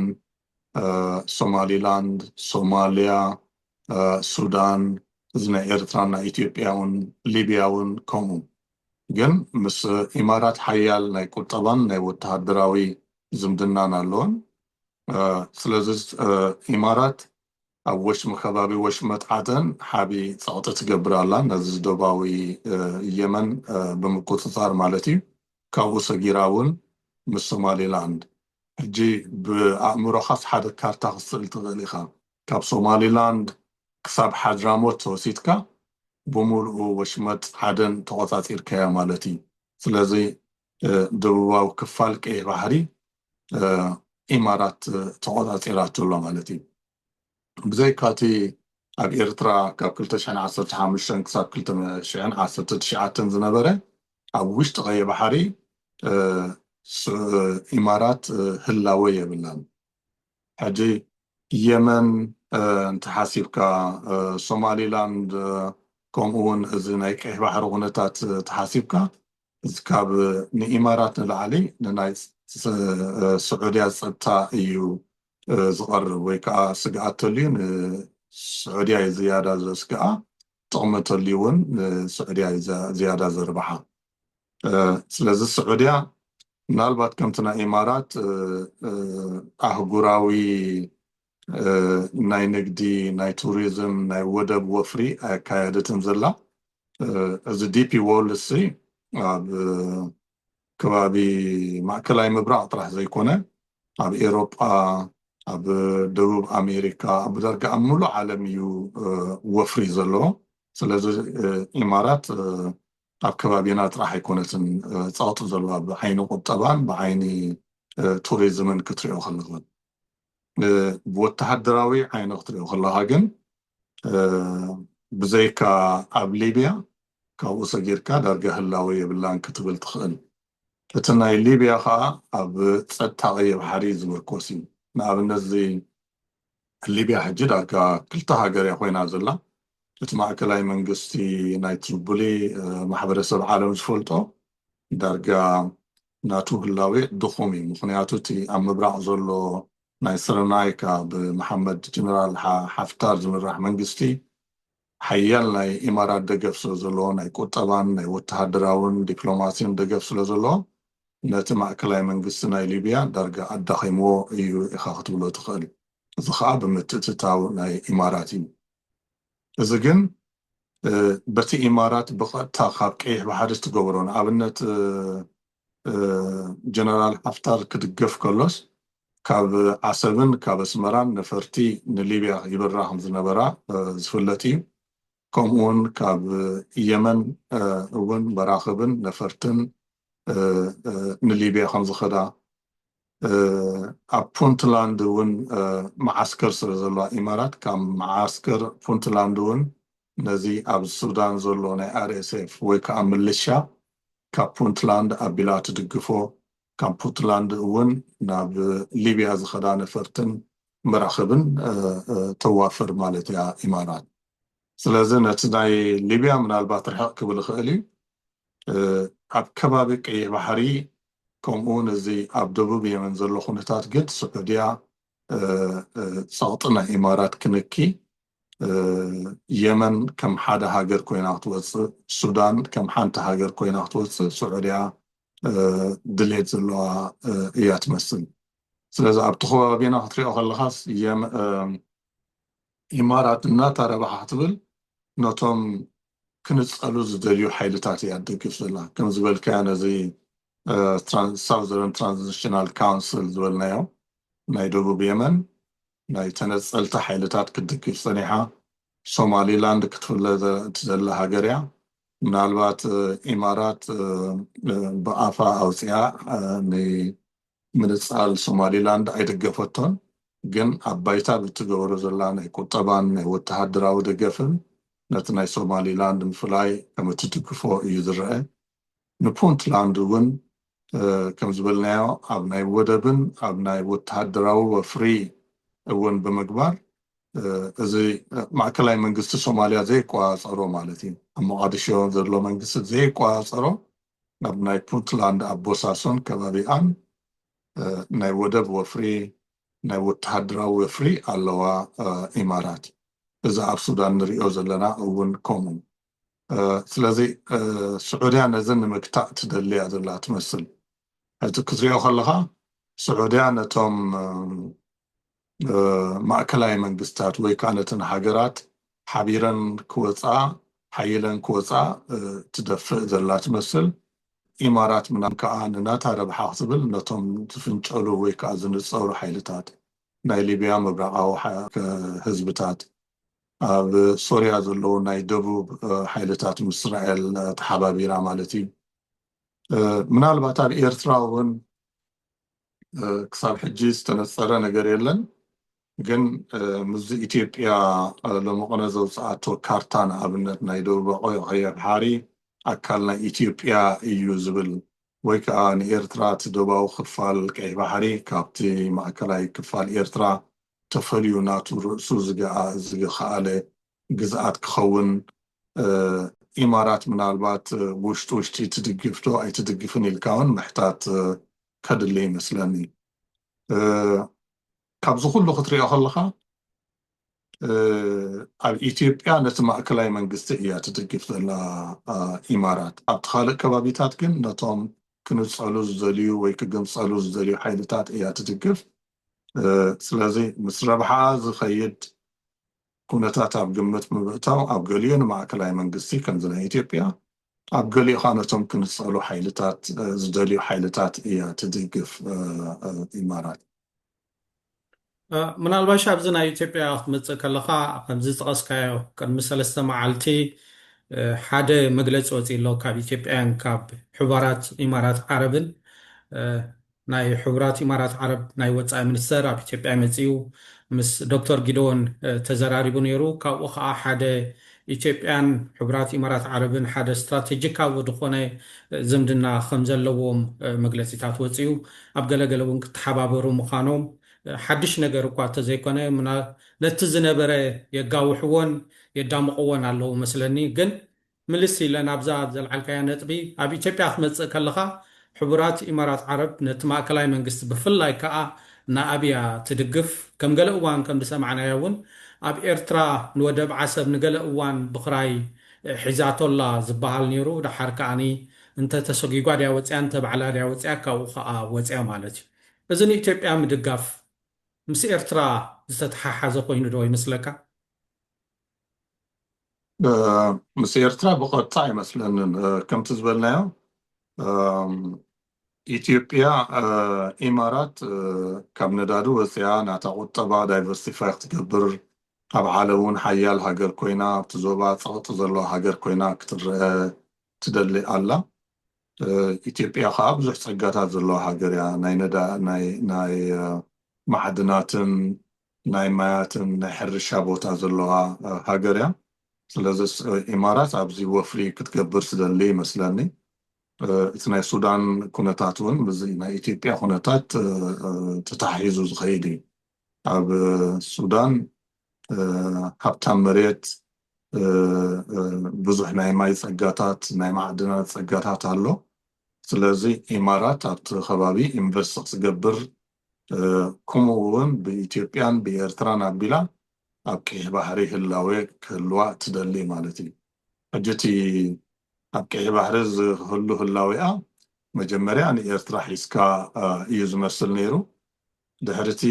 ሶማሊላንድ፣ ሶማልያ፣ ሱዳን እዚ ናይ ኤርትራን ናይ ኢትዮጵያውን ሊብያ ውን ከምኡ ግን ምስ ኢማራት ሓያል ናይ ቁጠባን ናይ ወተሃደራዊ ዝምድናን ኣለወን። ስለዚ ኢማራት ኣብ ወሽመ ከባቢ ወሽመጥ ዓደን ሓቢ ጸቕጢ ትገብር ኣላ፣ ነዚ ዶባዊ የመን ብምቁጽጻር ማለት ኢዩ፣ ካብኡ ሰጊራ እውን ምስ ሶማሊላንድ። ሕጂ ብኣእምሮኻስ ሓደ ካርታ ክትስእል ትኽእል ኢኻ፣ ካብ ሶማሊላንድ ክሳብ ሓድራሞት ወሲድካ ብምሉኡ ወሽመጥ ዓደን ተቖጻጺርካያ ማለት ኢዩ። ስለዚ ደቡባዊ ክፋል ቀይሕ ባሕሪ ኢማራት ተቆጻጺራቶ ኣላ ማለት እዩ። ብዘይካ እቲ ኣብ ኤርትራ ካብ ክልተ ሽሕን ዓሰርተ ሓሙሽተን ክሳብ ክልተ ሽሕን ዓሰርተ ትሽዓተን ዝነበረ ኣብ ውሽጢ ቀይሕ ባሕሪ ኢማራት ህላወ የብላን። ሕጂ የመን እንተሓሲብካ ሶማሊላንድ ከምኡውን እዚ ናይ ቀይሕ ባሕሪ ኩነታት ተሓሲብካ እዚ ካብ ንኢማራት ንላዕሊ ንናይ ስዑድያ ጸጥታ እዩ ዝቐርብ ወይ ከኣ ስግኣት ተልዩ ንስዑድያ እዩ ዝያዳ ዘስግኣ ጥቕሚ ተልዩ ውን ንስዑድያ እዩ ዝያዳ ዘርብሓ ስለዚ ስዑድያ ምናልባት ከምቲ ናይ ኢማራት ኣህጉራዊ ናይ ንግዲ ናይ ቱሪዝም ናይ ወደብ ወፍሪ ኣየካየደትን ዘላ እዚ ዲፒ ዎርልድ እዚ ኣብ ከባቢ ማእከላይ ምብራቅ ጥራሕ ዘይኮነ ኣብ ኤሮጳ ኣብ ደቡብ ኣሜሪካ ኣብ ዳርጋ ኣብ ምሉእ ዓለም እዩ ወፍሪ ዘለዎ ስለዚ ኢማራት ኣብ ከባቢና ጥራሕ ኣይኮነትን ጸቅጢ ዘለዋ ብዓይኒ ቁጠባን ብዓይኒ ቱሪዝምን ክትሪኦ ከለካ ብወተሃደራዊ ዓይነ ክትሪኦ ከለኻ ግን ብዘይካ ኣብ ሊብያ ካብኡ ሰጊርካ ዳርጋ ህላወ የብላን ክትብል ትኽእል። እቲ ናይ ሊብያ ኸኣ ኣብ ጸጥታ ቀይሕ ባሕሪ ዝምርኮስ እዩ። ንኣብነት እዚ ሊብያ ሕጂ ዳርጋ ክልተ ሃገር እያ ኮይና ዘላ። እቲ ማእከላይ መንግስቲ ናይ ትሪቡሊ ማሕበረሰብ ዓለም ዝፈልጦ ዳርጋ ናቱ ህላዌ ድኹም እዩ ምኽንያቱ እቲ ኣብ ምብራቕ ዘሎ ናይ ስረናይካ ብመሓመድ ጀነራል ሓፍታር ዝምራሕ መንግስቲ ሓያል ናይ ኢማራት ደገፍ ስለዘለዎ ናይ ቁጠባን ናይ ወተሃደራውን ዲፕሎማሲን ደገፍ ስለዘለዎ ነቲ ማእከላይ መንግስቲ ናይ ሊብያ ዳርጋ ኣዳኺምዎ እዩ ኢኻ ክትብሎ ትኽእል እዚ ኸኣ ብምትእትታው ናይ ኢማራት እዩ እዚ ግን በቲ ኢማራት ብቐጥታ ካብ ቀይሕ ባሕሪ እትገብሮ ንኣብነት ጀነራል ሓፍታር ክድገፍ ከሎስ ካብ ዓሰብን ካብ ኣስመራን ነፈርቲ ንሊብያ ይብራ ከም ዝነበራ ዝፍለጥ እዩ። ከምኡውን ካብ የመን እውን መራኽብን ነፈርትን ንሊብያ ከም ዝኸዳ ኣብ ፑንትላንድ ውን መዓስከር ስለ ዘለዋ ኢማራት ካብ መዓስከር ፑንትላንድ ውን ነዚ ኣብ ሱዳን ዘሎ ናይ ኣርኤስኤፍ ወይ ከኣ ምልሻ ካብ ፑንትላንድ ኣቢላ ትድግፎ ካብ ፑትላንድ ውን ናብ ሊብያ ዝኸዳ ነፈርትን መራኽብን ተዋፍር ማለት እያ ኢማራት ስለዚ ነቲ ናይ ሊብያ ምናልባት ርሕቕ ክብል ይኽእል እዩ ኣብ ከባቢ ቀይሕ ባሕሪ ከምኡውን እዚ ኣብ ደቡብ የመን ዘሎ ኩነታት ግን ስዑድያ ጸቕጢ ናይ ኢማራት ክንኪ የመን ከም ሓደ ሃገር ኮይና ክትወጽእ ሱዳን ከም ሓንቲ ሃገር ኮይና ክትወጽእ ስዑድያ ድሌት ዘለዋ እያ ትመስል ስለዚ ኣብቲ ከባቢና ክትሪኦ ከለኻስ ኢማራት እናታ ረብሓ ክትብል ነቶም ክንጸሉ ዝደልዩ ሓይልታት እያ ትደግፍ ዘላ ከም ዝበልካዮ ነዚ ሳውዘርን ትራንዚሽናል ካውንስል ዝበልናዮ ናይ ደቡብ የመን ናይ ተነጸልቲ ሓይልታት ክትድግፍ ጸኒሓ ሶማሊላንድ ክትፍለ ዘላ ሃገር እያ ምናልባት ኢማራት ብኣፋ ኣውጺኣ ምንጻል ሶማሊላንድ ኣይደገፈቶን፣ ግን ኣብ ባይታ ብትገብሮ ዘላ ናይ ቁጠባን ናይ ወተሃደራዊ ደገፍን ነቲ ናይ ሶማሊላንድ ምፍላይ ከም እትድግፎ እዩ ዝረኣ። ንፑንትላንድ እውን ከም ዝበልናዮ ኣብ ናይ ወደብን ኣብ ናይ ወተሃደራዊ ወፍሪ እውን ብምግባር እዚ ማእከላይ መንግስቲ ሶማልያ ዘይቆጻጸሮ ማለት እዩ ኣብ ሞቓድሾ ዘሎ መንግስቲ ዘይቆጻጸሮ ናብ ናይ ፑንትላንድ ኣብ ቦሳሶን ከባቢኣን ናይ ወደብ ወፍሪ ናይ ወተሃደራዊ ወፍሪ ኣለዋ ኢማራት እዚ ኣብ ሱዳን ንሪኦ ዘለና እውን ከምኡ ስለዚ ስዑድያ ነዚ ንምግታእ ትደሊ እያ ዘላ ትመስል ሕዚ ክትሪኦ ከለኻ ስዑድያ ነቶም ማእከላይ መንግስታት ወይ ከኣ ነተን ሃገራት ሓቢረን ክወጽኣ ሓይለን ክወጽኣ ትደፍእ ዘላ ትመስል። ኢማራት ምናም ከኣ ንናታ ረብሓ ክትብል ነቶም ዝፍንጨሉ ወይ ከኣ ዝንጸሩ ሓይልታት ናይ ሊብያ ምብራቓዊ ህዝብታት ኣብ ሶርያ ዘለዉ ናይ ደቡብ ሓይልታት ምስ እስራኤል ተሓባቢራ ማለት እዩ ምናልባት ኣብ ኤርትራ እውን ክሳብ ሕጂ ዝተነጸረ ነገር የለን ግን ምስዚ ኢትዮጵያ ሎሚ ቅነ ዘውጽኣቶ ካርታ ንኣብነት ናይ ደቡባዊ ቀይሕ ባሕሪ ኣካል ናይ ኢትዮጵያ እዩ ዝብል ወይ ከዓ ንኤርትራ እቲ ደቡባዊ ክፋል ቀይሕ ባሕሪ ካብቲ ማእከላይ ክፋል ኤርትራ ተፈልዩ ናቱ ርእሱ ዝገኣ ዝኸኣለ ግዝኣት ክኸውን ኢማራት ምናልባት ውሽጢ ውሽጢ ትድግፍ ዶ ኣይትድግፍን ኢልካ ውን ምሕታት ከድሊ ይመስለኒ ካብዚ ኩሉ ክትሪኦ ከለኻ ኣብ ኢትዮጵያ ነቲ ማእከላይ መንግስቲ እያ ትድግፍ ዘላ ኢማራት ኣብቲ ካልእ ከባቢታት ግን ነቶም ክንጸሉ ዝደልዩ ወይ ክግንጸሉ ዝደልዩ ሓይልታት እያ ትድግፍ ስለዚ ምስ ረብሓኣ ዝኸይድ ኩነታት ኣብ ግምት ብምእታው ኣብ ገሊኡ ንማእከላይ መንግስቲ ከምዚ ናይ ኢትዮጵያ ኣብ ገሊኡ ከኣ ነቶም ክንጸሉ ሓይልታት ዝደልዩ ሓይልታት እያ ትድግፍ ኢማራት። ምናልባሽ ኣብዚ ናይ ኢትዮጵያ ክትመጽእ ከለኻ ከምዚ ዝጠቐስካዮ ቅድሚ ሰለስተ መዓልቲ ሓደ መግለጺ ወጺኡ ኣሎ ካብ ኢትዮጵያን ካብ ሕባራት ኢማራት ዓረብን ናይ ሕቡራት ኢማራት ዓረብ ናይ ወጻኢ ሚኒስተር ኣብ ኢትዮጵያ መጺኡ ምስ ዶክተር ጊደዎን ተዘራሪቡ ነይሩ። ካብኡ ከኣ ሓደ ኢትዮጵያን ሕቡራት ኢማራት ዓረብን ሓደ ስትራተጂካዊ ዝኾነ ዝምድና ከምዘለዎም መግለጺታት ወጺኡ። ኣብ ገለ ገለ እውን ክተሓባበሩ ምዃኖም ሓድሽ ነገር እኳ እተዘይኮነ ነቲ ዝነበረ የጋውሕዎን የዳምቕዎን ኣለዉ መስለኒ ግን ምልስ ኢለ ናብዛ ዘልዓልካያ ነጥቢ፣ ኣብ ኢትዮጵያ ክትመጽእ ከለኻ ሕቡራት ኢማራት ዓረብ ነቲ ማእከላይ መንግስቲ ብፍላይ ክኣ ንኣቢ እያ ትድግፍ። ከም ገለ እዋን ከም ዝሰማዕናዮ እውን ኣብ ኤርትራ ንወደብ ዓሰብ ንገለ እዋን ብኽራይ ሒዛቶ ኣላ ዝበሃል ኔሩ ደሓር ክኣ እንተ ተሰጒጓ ድያ ወጺኣ እንተ ባዕላ ድያ ወጺኣ ካብኡ ክኣ ወጺኣ ማለት እዩ። እዚ ንኢትዮጵያ ምድጋፍ ምስ ኤርትራ ዝተተሓሓዘ ኮይኑ ዶ ይመስለካ? ምስ ኤርትራ ብቐጥታ ኣይመስለንን ከምቲ ዝበልናዮ ኢትዮጵያ ኢማራት ካብ ነዳዲ ወፂኣ ናታ ቁጠባ ዳይቨርሲፋይ ክትገብር ኣብ ዓለም እውን ሓያል ሃገር ኮይና ኣብቲ ዞባ ፀቕጢ ዘለዋ ሃገር ኮይና ክትረአ ትደሊ ኣላ ኢትዮጵያ ከዓ ብዙሕ ፀጋታት ዘለዋ ሃገር እያ ናይ ማዕድናትን ናይ ማያትን ናይ ሕርሻ ቦታ ዘለዋ ሃገር እያ ስለዝስ ኢማራት ኣብዚ ወፍሪ ክትገብር ትደሊ ይመስለኒ እቲ ናይ ሱዳን ኩነታት እውን ምስዚ ናይ ኢትዮጵያ ኩነታት ተተሓሒዙ ዝኸይድ እዩ ኣብ ሱዳን ሃብታም መሬት ብዙሕ ናይ ማይ ጸጋታት ናይ ማዕድናት ጸጋታት ኣሎ ስለዚ ኢማራት ኣብቲ ከባቢ ኢንቨስት ክትገብር ክምኡ ውን ብኢትዮጵያን ብኤርትራን ኣቢላ ኣብ ቀይሕ ባሕሪ ህላዌ ክህልዋ እትደሊ ማለት እዩ። ሕጂ እቲ ኣብ ቀይሕ ባሕሪ ዝህሉ ህላዌኣ መጀመርያ ንኤርትራ ሒዝካ እዩ ዝመስል ነይሩ። ድሕሪ እቲ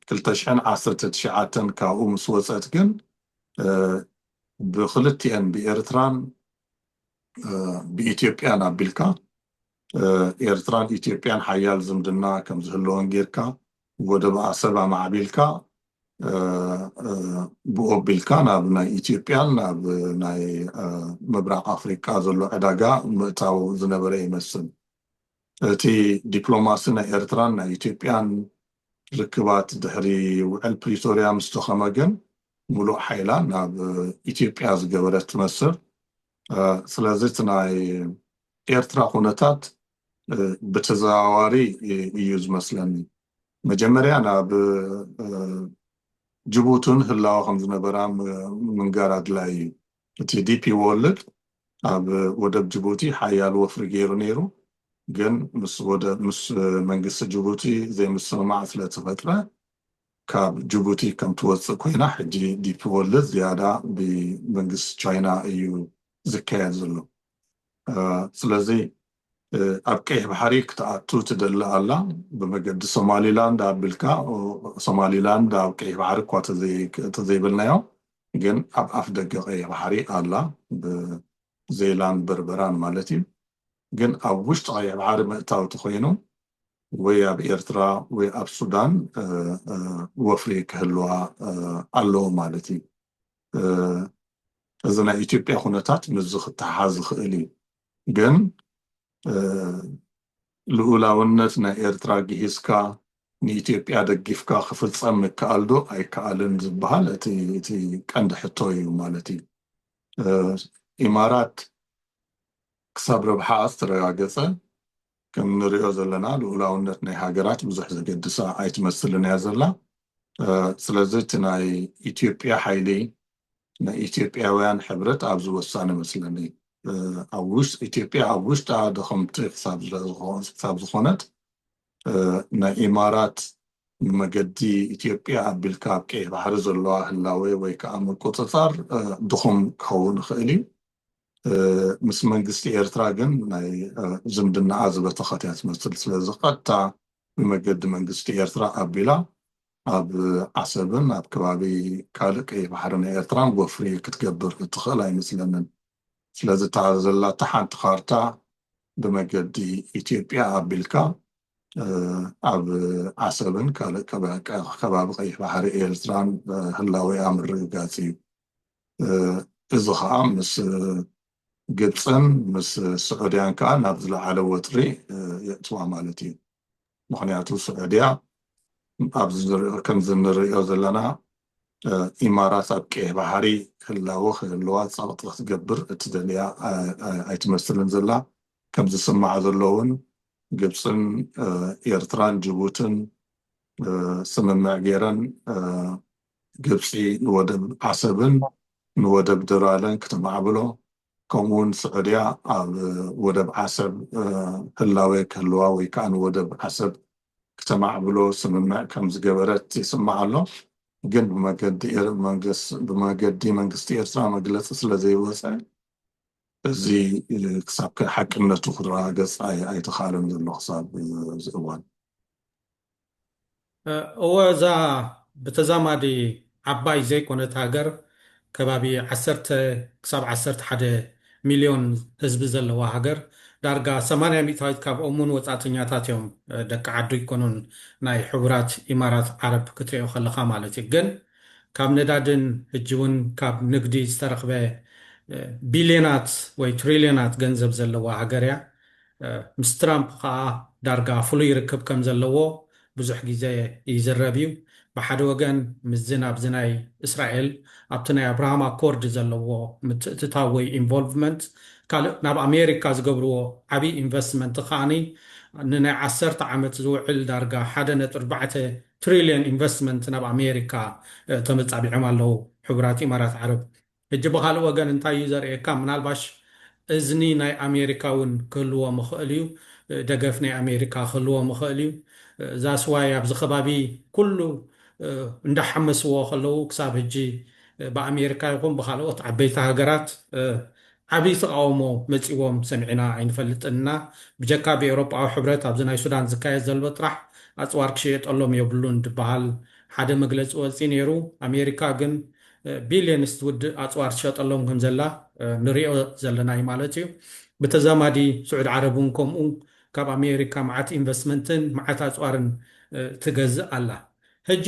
ክልተ ሽሕን ዓሰርተ ትሽዓተን ካብኡ ምስ ወጸት ግን ብክልቲኤን ብኤርትራን ብኢትዮጵያን ኣቢልካ ኤርትራን ኢትዮጵያን ሓያል ዝምድና ከም ዝህልወን ጌርካ ወደብ ኣሰብ ኣማዕቢልካ ብኡ ኣቢልካ ናብ ናይ ኢትዮጵያን ናብ ናይ ምብራቕ ኣፍሪቃ ዘሎ ዕዳጋ ምእታው ዝነበረ ይመስል። እቲ ዲፕሎማሲ ናይ ኤርትራን ናይ ኢትዮጵያን ርክባት ድሕሪ ውዕል ፕሪቶርያ ምስ ተኸመ ግን ምሉእ ሓይላ ናብ ኢትዮጵያ ዝገበረት ትመስል። ስለዚ እቲ ናይ ኤርትራ ኩነታት ብተዘዋዋሪ እዩ ዝመስለኒ መጀመርያ ናብ ጅቡቲ ውን ህላወ ከም ዝነበራ ምንጋር ኣድላይ እዩ እቲ ዲፒ ዎርልድ ኣብ ወደብ ጅቡቲ ሓያል ወፍሪ ገይሩ ነይሩ ግን ምስ ወደብ ምስ መንግስቲ ጅቡቲ ዘይምስምማዕ ስለተፈጥረ ካብ ጅቡቲ ከም ትወጽእ ኮይና ሕጂ ዲፒዎርልድ ዝያዳ ብመንግስቲ ቻይና እዩ ዝካየድ ዘሎ ስለዚ ኣብ ቀይሕ ባሕሪ ክትኣቱ ትደሊ ኣላ ብመገዲ ሶማሊላንድ ኣብልካ ሶማሊላንድ ኣብ ቀይሕ ባሕሪ እኳ ተዘይበልናዮ ግን ኣብ ኣፍ ደገ ቀይሕ ባሕሪ ኣላ ብዘይላንድ በርበራን ማለት እዩ ግን ኣብ ውሽጢ ቀይሕ ባሕሪ መእታው ተኮይኑ ወይ ኣብ ኤርትራ ወይ ኣብ ሱዳን ወፍሪ ክህልዋ ኣለዎ ማለት እዩ። እዚ ናይ ኢትዮጵያ ኩነታት ምስዚ ክተሓሓዝ ዝኽእል እዩ። ግን ልኡላውነት ናይ ኤርትራ ግሂስካ ንኢትዮጵያ ደጊፍካ ክፍጸም ምከኣል ዶ ኣይከኣልን ዝበሃል እቲ ቀንዲ ሕቶ እዩ ማለት እዩ። ኢማራት ክሳብ ረብሓኣ ዝተረጋገጸ ከም ንሪኦ ዘለና ልኡላውነት ናይ ሃገራት ብዙሕ ዘገድሳ ኣይትመስልን እያ ዘላ። ስለዚ እቲ ናይ ኢትዮጵያ ሓይሊ ናይ ኢትዮጵያውያን ሕብረት ኣብዚ ወሳኒ መስለኒ። ኢትዮጵያ ኣብ ውሽጣ ድኽምቲ ክሳብ ዝኾነት ናይ ኢማራት ንመገዲ ኢትዮጵያ ኣቢልካ ኣብ ቀይሕ ባሕሪ ዘለዋ ህላዌ ወይ ከዓ ምቁጽጻር ድኹም ክኸውን ይኽእል እዩ። ምስ መንግስቲ ኤርትራ ግን ናይ ዝምድናኣ ዝበተኸት እያ ትመስል። ስለዚ ቀጥታ ብመገዲ መንግስቲ ኤርትራ ኣቢላ ኣብ ዓሰብን ኣብ ከባቢ ካልእ ቀይሕ ባሕሪ ናይ ኤርትራን ወፍሪ ክትገብር እትኽእል ኣይመስለንን። ስለዚ እታ ዘላታ ሓንቲ ካርታ ብመገዲ ኢትዮጵያ ኣቢልካ ኣብ ዓሰብን ካልእ ከባቢ ቀይሕ ባሕሪ ኤርትራን ህላዌኣ ምርግጋጽ እዩ። እዚ ከኣ ምስ ግብጽን ምስ ስዑድያን ከኣ ናብ ዝለዓለ ወጥሪ የእትዋ ማለት እዩ ምክንያቱ ስዑድያ ኣብዚ ከምዚ ንርእዮ ዘለና ኢማራት ኣብ ቀይሕ ባሕሪ ህላወ ክህልዋ ጸቕጢ ክትገብር እትደልያ ኣይትመስልን ዘላ ከም ዝስማዕ ዘሎ እውን ግብፅን ኤርትራን ጅቡትን ስምምዕ ገይረን ግብፂ ንወደብ ዓሰብን ንወደብ ደራለን ክተማዕብሎ ከምኡ ውን ስዑድያ ኣብ ወደብ ዓሰብ ህላዌ ክህልዋ ወይ ከዓ ንወደብ ዓሰብ ክተማዕብሎ ስምምዕ ከምዝገበረት ይስማዕ ኣሎ። ግን ብመገዲ መንግስቲ ኤርትራ መግለፂ ስለዘይወፀ እዚ ክሳብ ሓቅነቱ ክረጋገፅ ኣይተኽኣለን ዘሎ ክሳብ እዚ እዋን። እወ እዛ ብተዛማዲ ዓባይ ዘይኮነት ሃገር ከባቢ ዓሰርተ ክሳብ ዓሰርተ ሓደ ሚልዮን ህዝቢ ዘለዋ ሃገር ዳርጋ ሰማንያ ሚእታዊት ካብኦም ውን ወጻእተኛታት እዮም ደቂ ዓዱ ኣይኮኑን ናይ ሕቡራት ኢማራት ዓረብ ክትሪኦ ከለኻ ማለት እዩ ግን ካብ ነዳድን ህጂ ውን ካብ ንግዲ ዝተረኽበ ቢልዮናት ወይ ትሪልዮናት ገንዘብ ዘለዋ ሃገር እያ ምስ ትራምፕ ከኣ ዳርጋ ፍሉይ ርክብ ከም ዘለዎ ብዙሕ ግዜ ይዝረብ እዩ። ብሓደ ወገን ምስዚ ናብዚ ናይ እስራኤል ኣብቲ ናይ ኣብርሃም ኣኮርድ ዘለዎ ምትእትታው ወይ ኢንቮልቭመንት ካልእ ናብ ኣሜሪካ ዝገብርዎ ዓብዪ ኢንቨስትመንት ከኣ ንናይ ዓሰርተ ዓመት ዝውዕል ዳርጋ ሓደ ነጥቢ ኣርባዕተ ትሪልዮን ኢንቨስትመንት ናብ ኣሜሪካ ተመጻቢዖም ኣለዉ ሕቡራት ኢማራት ዓረብ ሕጂ ብኻልእ ወገን እንታይ እዩ ዘርእየካ ምናልባሽ እዝኒ ናይ ኣሜሪካ እውን ክህልዎም ይኽእል እዩ ደገፍ ናይ ኣሜሪካ ክህልዎም ይኽእል እዩ ዛስ ዋይ ኣብዚ ከባቢ ኩሉ እንዳሓመስዎ ከለዉ ክሳብ ሕጂ ብኣሜሪካ ይኹን ብኻልኦት ዓበይቲ ሃገራት ዓብይ ተቓውሞ መጺዎም ሰሚዕና ኣይንፈልጥን እና ብጀካ ብኤውሮጳዊ ሕብረት ኣብዚ ናይ ሱዳን ዝካየድ ዘሎ ጥራሕ ኣጽዋር ክሽየጠሎም የብሉን ድበሃል ሓደ መግለጺ ወጺ ነይሩ ኣሜሪካ ግን ቢልየንስ ትውድእ ኣጽዋር ትሸጠሎም ከም ዘላ ንሪኦ ዘለና እዩ ማለት እዩ። ብተዛማዲ ስዑድ ዓረብ እውን ከምኡ ካብ ኣሜሪካ መዓት ኢንቨስትመንትን መዓት ኣጽዋርን ትገዝእ ኣላ። ሕጂ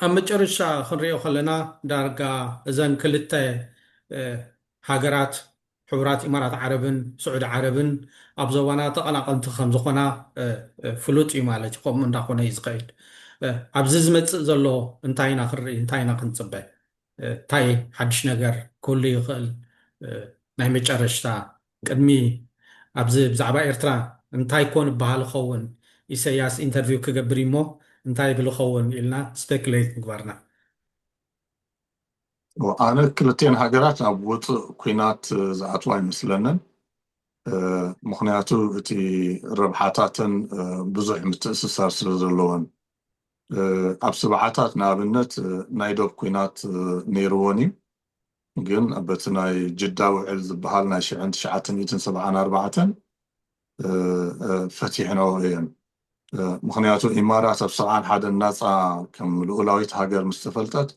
ኣብ መጨረሻ ክንሪኦ ከለና ዳርጋ እዘን ክልተ ሃገራት ሕቡራት ኢማራት ዓረብን ስዑዲ ዓረብን ኣብ ዞባና ተቐናቐንቲ ከም ዝኾና ፍሉጥ እዩ ማለት እዩ። ከምኡ እንዳኾነ እዩ ዝኸይድ። ኣብዚ ዝመጽእ ዘሎ እንታይ ኢና ክንርኢ፣ እንታይ ኢና ክንጽበ፣ እንታይ ሓድሽ ነገር ክህሉ ይኽእል፣ ናይ መጨረሽታ ቅድሚ ኣብዚ ብዛዕባ ኤርትራ እንታይ ኮን ይበሃል ይኸውን፣ ኢሰያስ ኢንተርቪው ክገብር እዩሞ እንታይ ይብል ይኸውን ኢልና ስፔኩሌት ምግባርና። ኣነ ክልቲኤን ሃገራት ኣብ ውፁእ ኩናት ዝኣትዋ ኣይመስለንን ምክንያቱ እቲ ረብሓታተን ብዙሕ ምትእስሳር ስለ ዘለወን ኣብ ስብዓታት ንኣብነት ናይ ዶብ ኩናት ነይርወን እዩ ግን በቲ ናይ ጅዳ ውዕል ዝበሃል ናይ ሽሕን ትሽዓተ ሚእትን ሰብዓን ኣርባዕተን ፈቲሕነኦ እየን ምኽንያቱ ኢማራት ኣብ ሰብዓን ሓደን ናጻ ከም ልኡላዊት ሃገር ምስ ተፈልጠት፣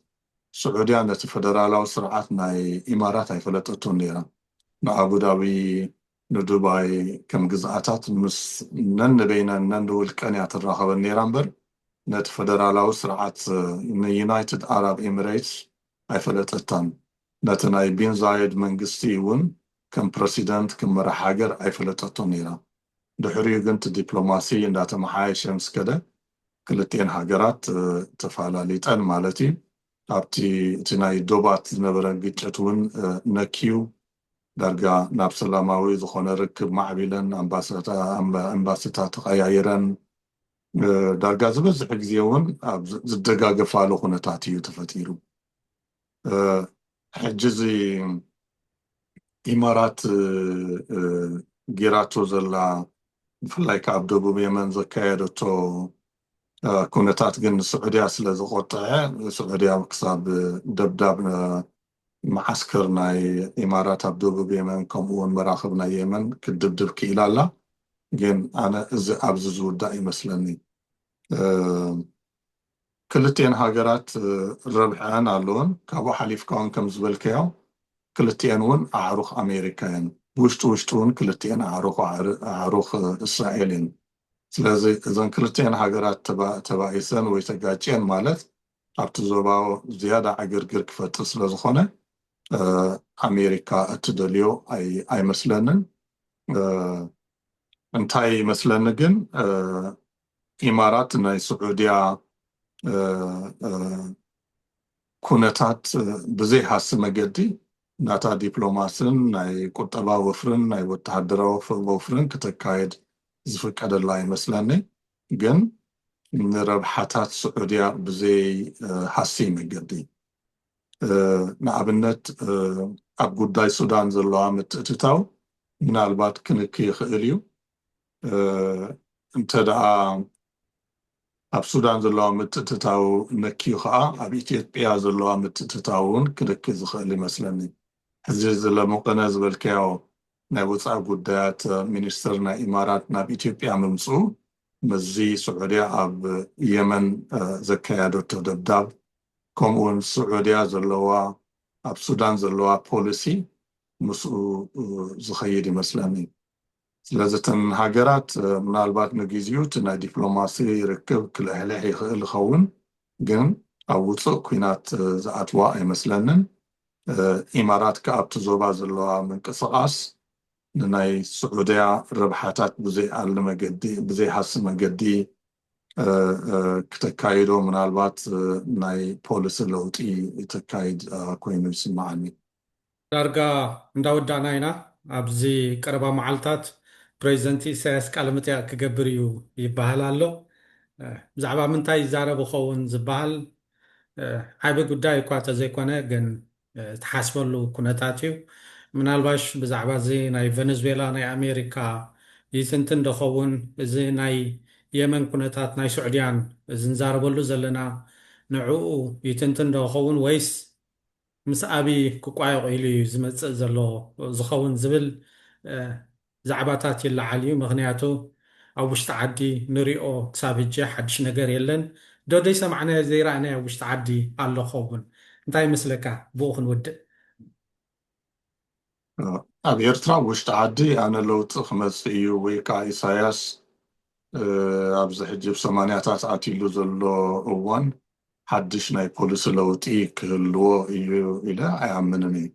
ስዑድያ ነቲ ፈደራላዊ ስርዓት ናይ ኢማራት ኣይፈለጠቶን ነይራ። ንኣቡዳቢ፣ ንዱባይ ከም ግዝኣታት ምስ ነንበይነን ነንውልቀን እያ ትራኸበን ነይራ እምበር ነቲ ፈደራላዊ ስርዓት ንዩናይትድ ኣራብ ኤሚረይትስ ኣይፈለጠታን። ነቲ ናይ ቢን ዛየድ መንግስቲ እውን ከም ፕረሲደንት፣ ከም መራሒ ሃገር ኣይፈለጠቶን ነይራ። ድሕሪኡ ግን እቲ ዲፕሎማሲ እንዳተመሓየሸ ምስ ከደ ክልቲኤን ሃገራት ተፋላሊጠን ማለት እዩ። ኣብቲ እቲ ናይ ዶባት ዝነበረ ግጭት እውን ነክዩ ዳርጋ ናብ ሰላማዊ ዝኾነ ርክብ ማዕቢለን ኣምባስታ ተቐያይረን ዳርጋ ዝበዝሕ ግዜ እውን ኣብ ዝደጋገፋሉ ኩነታት እዩ ተፈጢሩ። ሕጂ እዚ ኢማራት ጌራቶ ዘላ ብፍላይ ከኣ ኣብ ደቡብ የመን ዘካየደቶ ኩነታት ግን ንስዑድያ ስለ ዘቖጠዐ ስዑድያ ክሳብ ደብዳብ መዓስከር ናይ ኢማራት ኣብ ደቡብ የመን ከምኡ ውን መራኽብ ናይ የመን ክትድብድብ ክኢላ ኣላ ግን ኣነ እዚ ኣብዚ ዝውዳእ ይመስለኒ። ክልቲኤን ሃገራት ረብሐኣን ኣለወን ካብኡ ሓሊፍካ ውን ከም ዝበልካዮ ክልቲኤን ውን ኣዕሩኽ ኣሜሪካ የን ብውሽጢ ውሽጢ ውን ክልቲኤን ኣዕሩኽ ኣዕሩኽ እስራኤል የን ስለዚ እዘን ክልቲኤን ሃገራት ተባኢሰን ወይ ተጋጭየን ማለት ኣብቲ ዞባ ዝያዳ ዕግርግር ክፈጥር ስለ ዝኾነ ኣሜሪካ እትደልዮ ኣይመስለንን እንታይ ይመስለኒ ግን ኢማራት ናይ ስዑድያ ኩነታት ብዘይሃሲ መገዲ ናታ ዲፕሎማስን ናይ ቁጠባ ወፍርን ናይ ወተሃደራዊ ወፍርን ክተካይድ ዝፍቀደላ ይመስለኒ ግን ንረብሓታት ስዑድያ ብዘይ ሃሲ መገዲ ንኣብነት ኣብ ጉዳይ ሱዳን ዘለዋ ምትእትታው ምናልባት ክንኪ ይኽእል እዩ እንተ ደኣ ኣብ ሱዳን ዘለዋ ምትእትታው ነክዩ ከኣ ኣብ ኢትዮጵያ ዘለዋ ምትእትታው እውን ክልኪ ዝኽእል ይመስለኒ። ሕዚ እዚ ለሙቅነ ዝበልካዮ ናይ ወጻኢ ጉዳያት ሚኒስትር ናይ ኢማራት ናብ ኢትዮጵያ ምምጽኡ ምስዚ ስዑድያ ኣብ የመን ዘካየደቶ ደብዳብ ከምኡ እውን ስዑድያ ዘለዋ ኣብ ሱዳን ዘለዋ ፖሊሲ ምስኡ ዝኸይድ ይመስለኒ። ስለዚ እተን ሃገራት ምናልባት ንግዚኡ እቲ ናይ ዲፕሎማሲ ርክብ ክልሕልሕ ይኽእል ይኸውን ግን ኣብ ውጹእ ኲናት ዝኣትዋ ኣይመስለንን። ኢማራት ከኣ ኣብቲ ዞባ ዘለዋ ምንቅስቓስ ንናይ ስዑድያ ረብሓታት ብዘይኣሊ መገዲ ብዘይሃሲ መገዲ ክተካይዶ ምናልባት ናይ ፖሊሲ ለውጢ እተካይድ ኮይኑ ይስምዓኒ። ዳርጋ እንዳወዳእና ኢና፣ ኣብዚ ቀረባ መዓልታት ፕረዚደንት ኢሳያስ ቃለመጠይቕ ክገብር እዩ ይበሃል ኣሎ። ብዛዕባ ምንታይ ይዛረብ ይኸውን ዝበሃል ዓቢ ጉዳይ እኳ ተዘይኮነ ግን ትሓስበሉ ኩነታት እዩ። ምናልባሽ ብዛዕባ እዚ ናይ ቨነዝዌላ ናይ ኣሜሪካ ይትንትን ዶ ኸውን፣ እዚ ናይ የመን ኩነታት ናይ ሱዕድያን እዚ ንዛረበሉ ዘለና ንዕኡ ይትንትን ዶ ይኸውን ወይስ ምስ ኣብይ ክቋየቑ ኢሉ እዩ ዝመፅእ ዘሎ ዝኸውን ዝብል ዛዕባታት ይለዓል እዩ። ምኽንያቱ ኣብ ውሽጢ ዓዲ ንሪኦ ክሳብ ህጂ ሓዱሽ ነገር የለን። ዶ ደይሰማዕናዮ ዘይረኣናዮ ኣብ ውሽጢ ዓዲ ኣሎ ክኸውን? እንታይ ይመስለካ ብኡ ክንውድእ? ኣብ ኤርትራ ኣብ ውሽጢ ዓዲ ኣነ ለውጢ ክመጽእ እዩ ወይ ከኣ ኢሳያስ ኣብዚ ሕጂ ኣብ ሰማንያታት ኣትይሉ ዘሎ እዋን ሓድሽ ናይ ፖሊሲ ለውጢ ክህልዎ እዩ ኢለ ኣይኣምንን እየ።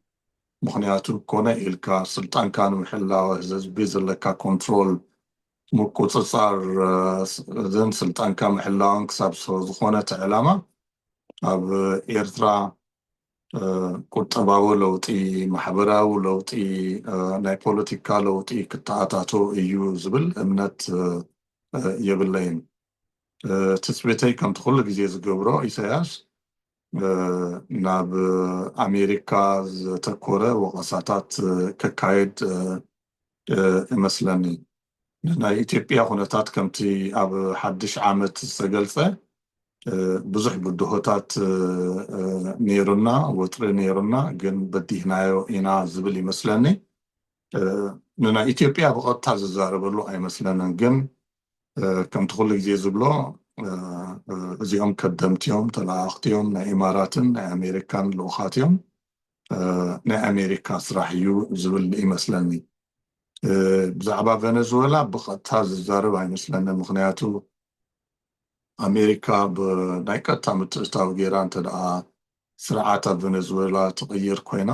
ምኽንያቱ ኮነ ኢልካ ስልጣንካ ንምሕላው ህዝቢ ዘለካ ኮንትሮል ምቁጽጻርን ስልጣንካ ምሕላውን ክሳብ ዝኾነ እቲ ዕላማ ኣብ ኤርትራ ቁጠባዊ ለውጢ፣ ማሕበራዊ ለውጢ፣ ናይ ፖለቲካ ለውጢ ክተኣታቶ እዩ ዝብል እምነት የብለይን። ትጽቢተይ ከምቲ ኩሉ ግዜ ዝገብሮ ኢሳያስ ናብ ኣሜሪካ ዘተኮረ ወቐሳታት ከካይድ እመስለኒ። ንናይ ኢትዮጵያ ኩነታት ከምቲ ኣብ ሓድሽ ዓመት ዝተገልጸ ብዙሕ ብድሆታት ነይሩና፣ ወጥሪ ነይሩና ግን በዲህናዮ ኢና ዝብል ይመስለኒ። ንናይ ኢትዮጵያ ብቐጥታ ዝዛረበሉ ኣይመስለንን ግን ከምቲ ኩሉ ግዜ ዝብሎ እዚኦም ከደምቲዮም ተለኣኣኽቲዮም ናይ ኢማራትን ናይ ኣሜሪካን ልኡኻትዮም ናይ ኣሜሪካ ስራሕ እዩ ዝብል ይመስለኒ ብዛዕባ ቨነዝወላ ብቀጥታ ዝዛረብ ኣይመስለኒ ምክንያቱ ኣሜሪካ ብናይ ቀጥታ ምትእታው ገይራ እንተደኣ ስርዓት ኣብ ቨነዝወላ ትቕይር ኮይና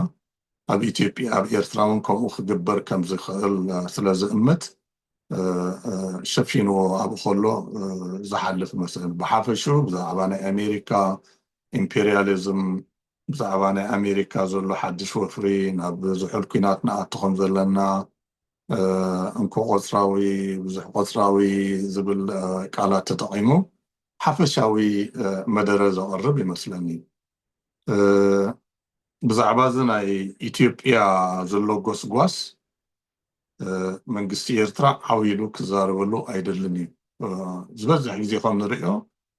ኣብ ኢትዮጵያ ኣብ ኤርትራ እውን ከምኡ ክግበር ከም ዝኽእል ስለ ዝእምት ሸፊንዎ ኣብኡ ከሎ ዝሓልፍ መስል ብሓፈሽኡ ብዛዕባ ናይ ኣሜሪካ ኢምፔሪያሊዝም ብዛዕባ ናይ ኣሜሪካ ዘሎ ሓድሽ ወፍሪ ናብ ዝሑል ኩናት ንኣቱ ከም ዘለና እንኮ ቆጽራዊ ብዙሕ ቆጽራዊ ዝብል ቃላት ተጠቒሙ ሓፈሻዊ መደረ ዘቕርብ ይመስለኒ ብዛዕባ እዚ ናይ ኢትዮጵያ ዘሎ ጎስጓስ መንግስቲ ኤርትራ ዓው ኢሉ ክዛረበሉ ኣይደልን እዩ ዝበዝሕ ግዜ ከም ንርእዮ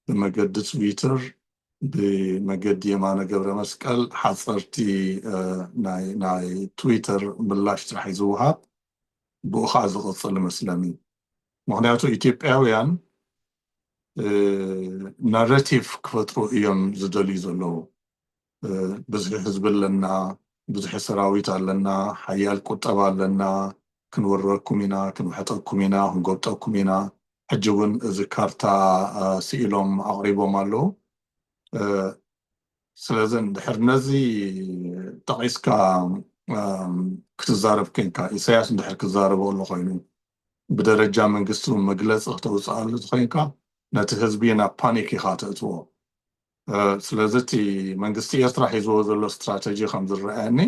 ብመገዲ ትዊተር ብመገዲ የማነ ገብረመስቀል ሓፀርቲ ናይ ትዊተር ምላሽ ጥራሕ እዩ ዝወሃብ ብኡ ከዓ ዝቅፅል እመስለኒ ምክንያቱ ኢትዮጵያውያን ናረቲቭ ክፈጥሩ እዮም ዝደልዩ ዘለዉ ብዝሒ ህዝቢ ኣለና፣ ብዝሒ ሰራዊት ኣለና፣ ሓያል ቁጠባ ኣለና፣ ክንውረርኩም ኢና፣ ክንውሕጠኩም ኢና፣ ክንጎብጠኩም ኢና፣ ሕጂ እውን እዚ ካርታ ስኢሎም ኣቕሪቦም ኣለዉ። ስለዚ እንድሕር ነዚ ጠቒስካ ክትዛረብ ኮይንካ፣ ኢሳያስ እንድሕር ክዛረቦ ኣሎ ኮይኑ፣ ብደረጃ መንግስቲ እውን መግለጺ ክተውጽኣሉ እንተኾይንካ፣ ነቲ ህዝቢ ናብ ፓኒክ ኢኻ ተእትዎ። ስለዚ እቲ መንግስቲ ኤርትራ ሒዝዎ ዘሎ ስትራተጂ ከም ዝረኣየኒ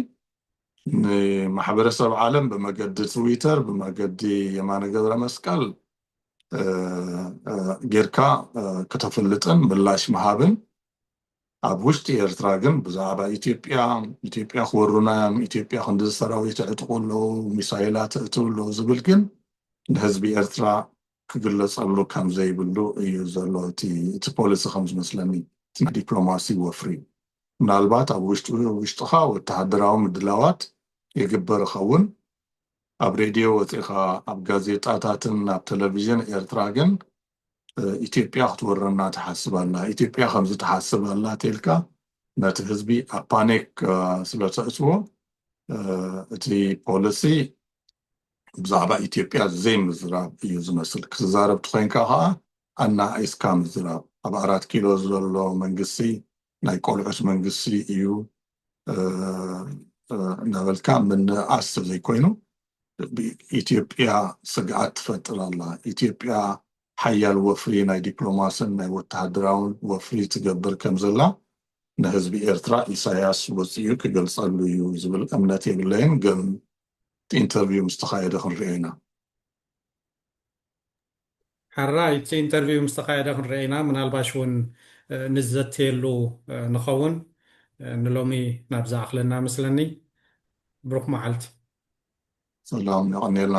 ንማሕበረሰብ ዓለም ብመገዲ ትዊተር ብመገዲ የማነ ገብረመስቀል ጌርካ ክተፍልጥን ምላሽ ምሃብን ኣብ ውሽጢ ኤርትራ ግን ብዛዕባ ኢትዮጵያ ኢትዮጵያ ክወሩና እዮም ኢትዮጵያ ክንዲ ሰራዊት ኣዕጥቁ ኣለዉ ሚሳይላት እእትው ኣለዉ ዝብል ግን ንህዝቢ ኤርትራ ክግለጸሉ ከም ዘይብሉ እዩ ዘሎ እቲ ፖሊሲ ከም ዝመስለኒ እቲ ናይ ዲፕሎማሲ ወፍሪ። ምናልባት ኣብ ውሽጢ ውሽጥኻ ወተሃደራዊ ምድላዋት ይግበር እኸውን፣ ኣብ ሬድዮ ወጺእኻ ኣብ ጋዜጣታትን ኣብ ተለቪዥን ኤርትራ ግን ኢትዮጵያ ክትወረና ትሓስብ ኣላ፣ ኢትዮጵያ ከምዚ ትሓስብ ኣላ ቴልካ ነቲ ህዝቢ ኣብ ፓኒክ ስለ ተእትዎ እቲ ፖሊሲ ብዛዕባ ኢትዮጵያ ዘይምዝራብ እዩ ዝመስል ክትዛረብ ትኮይንካ ከኣ ኣናኣኢስካ ምዝራብ ኣብ ኣራት ኪሎ ዘሎ መንግስቲ ናይ ቆልዑት መንግስቲ እዩ እናበልካ ምንእኣስ ተዘይኮይኑ ኢትዮጵያ ስግኣት ትፈጥር ኣላ ኢትዮጵያ ሓያል ወፍሪ ናይ ዲፕሎማስን ናይ ወተሃደራውን ወፍሪ ትገብር ከም ዘላ ንህዝቢ ኤርትራ ኢሳያስ ወፂኡ ክገልፀሉ እዩ ዝብል እምነት የብለይን ግን እቲ ኢንተርቪው ምስ ተኻየደ ክንርእዮ ኢና። ሕራይ እቲ ኢንተርቪው ምስ ተኻየደ ክንርእዮ ኢና፣ ምናልባሽ እውን ንዘትየሉ ንኸውን። ንሎሚ ናብዚ ኣኽለና እመስለኒ። ብሩኽ መዓልቲ። ሰላም የቐንየልና።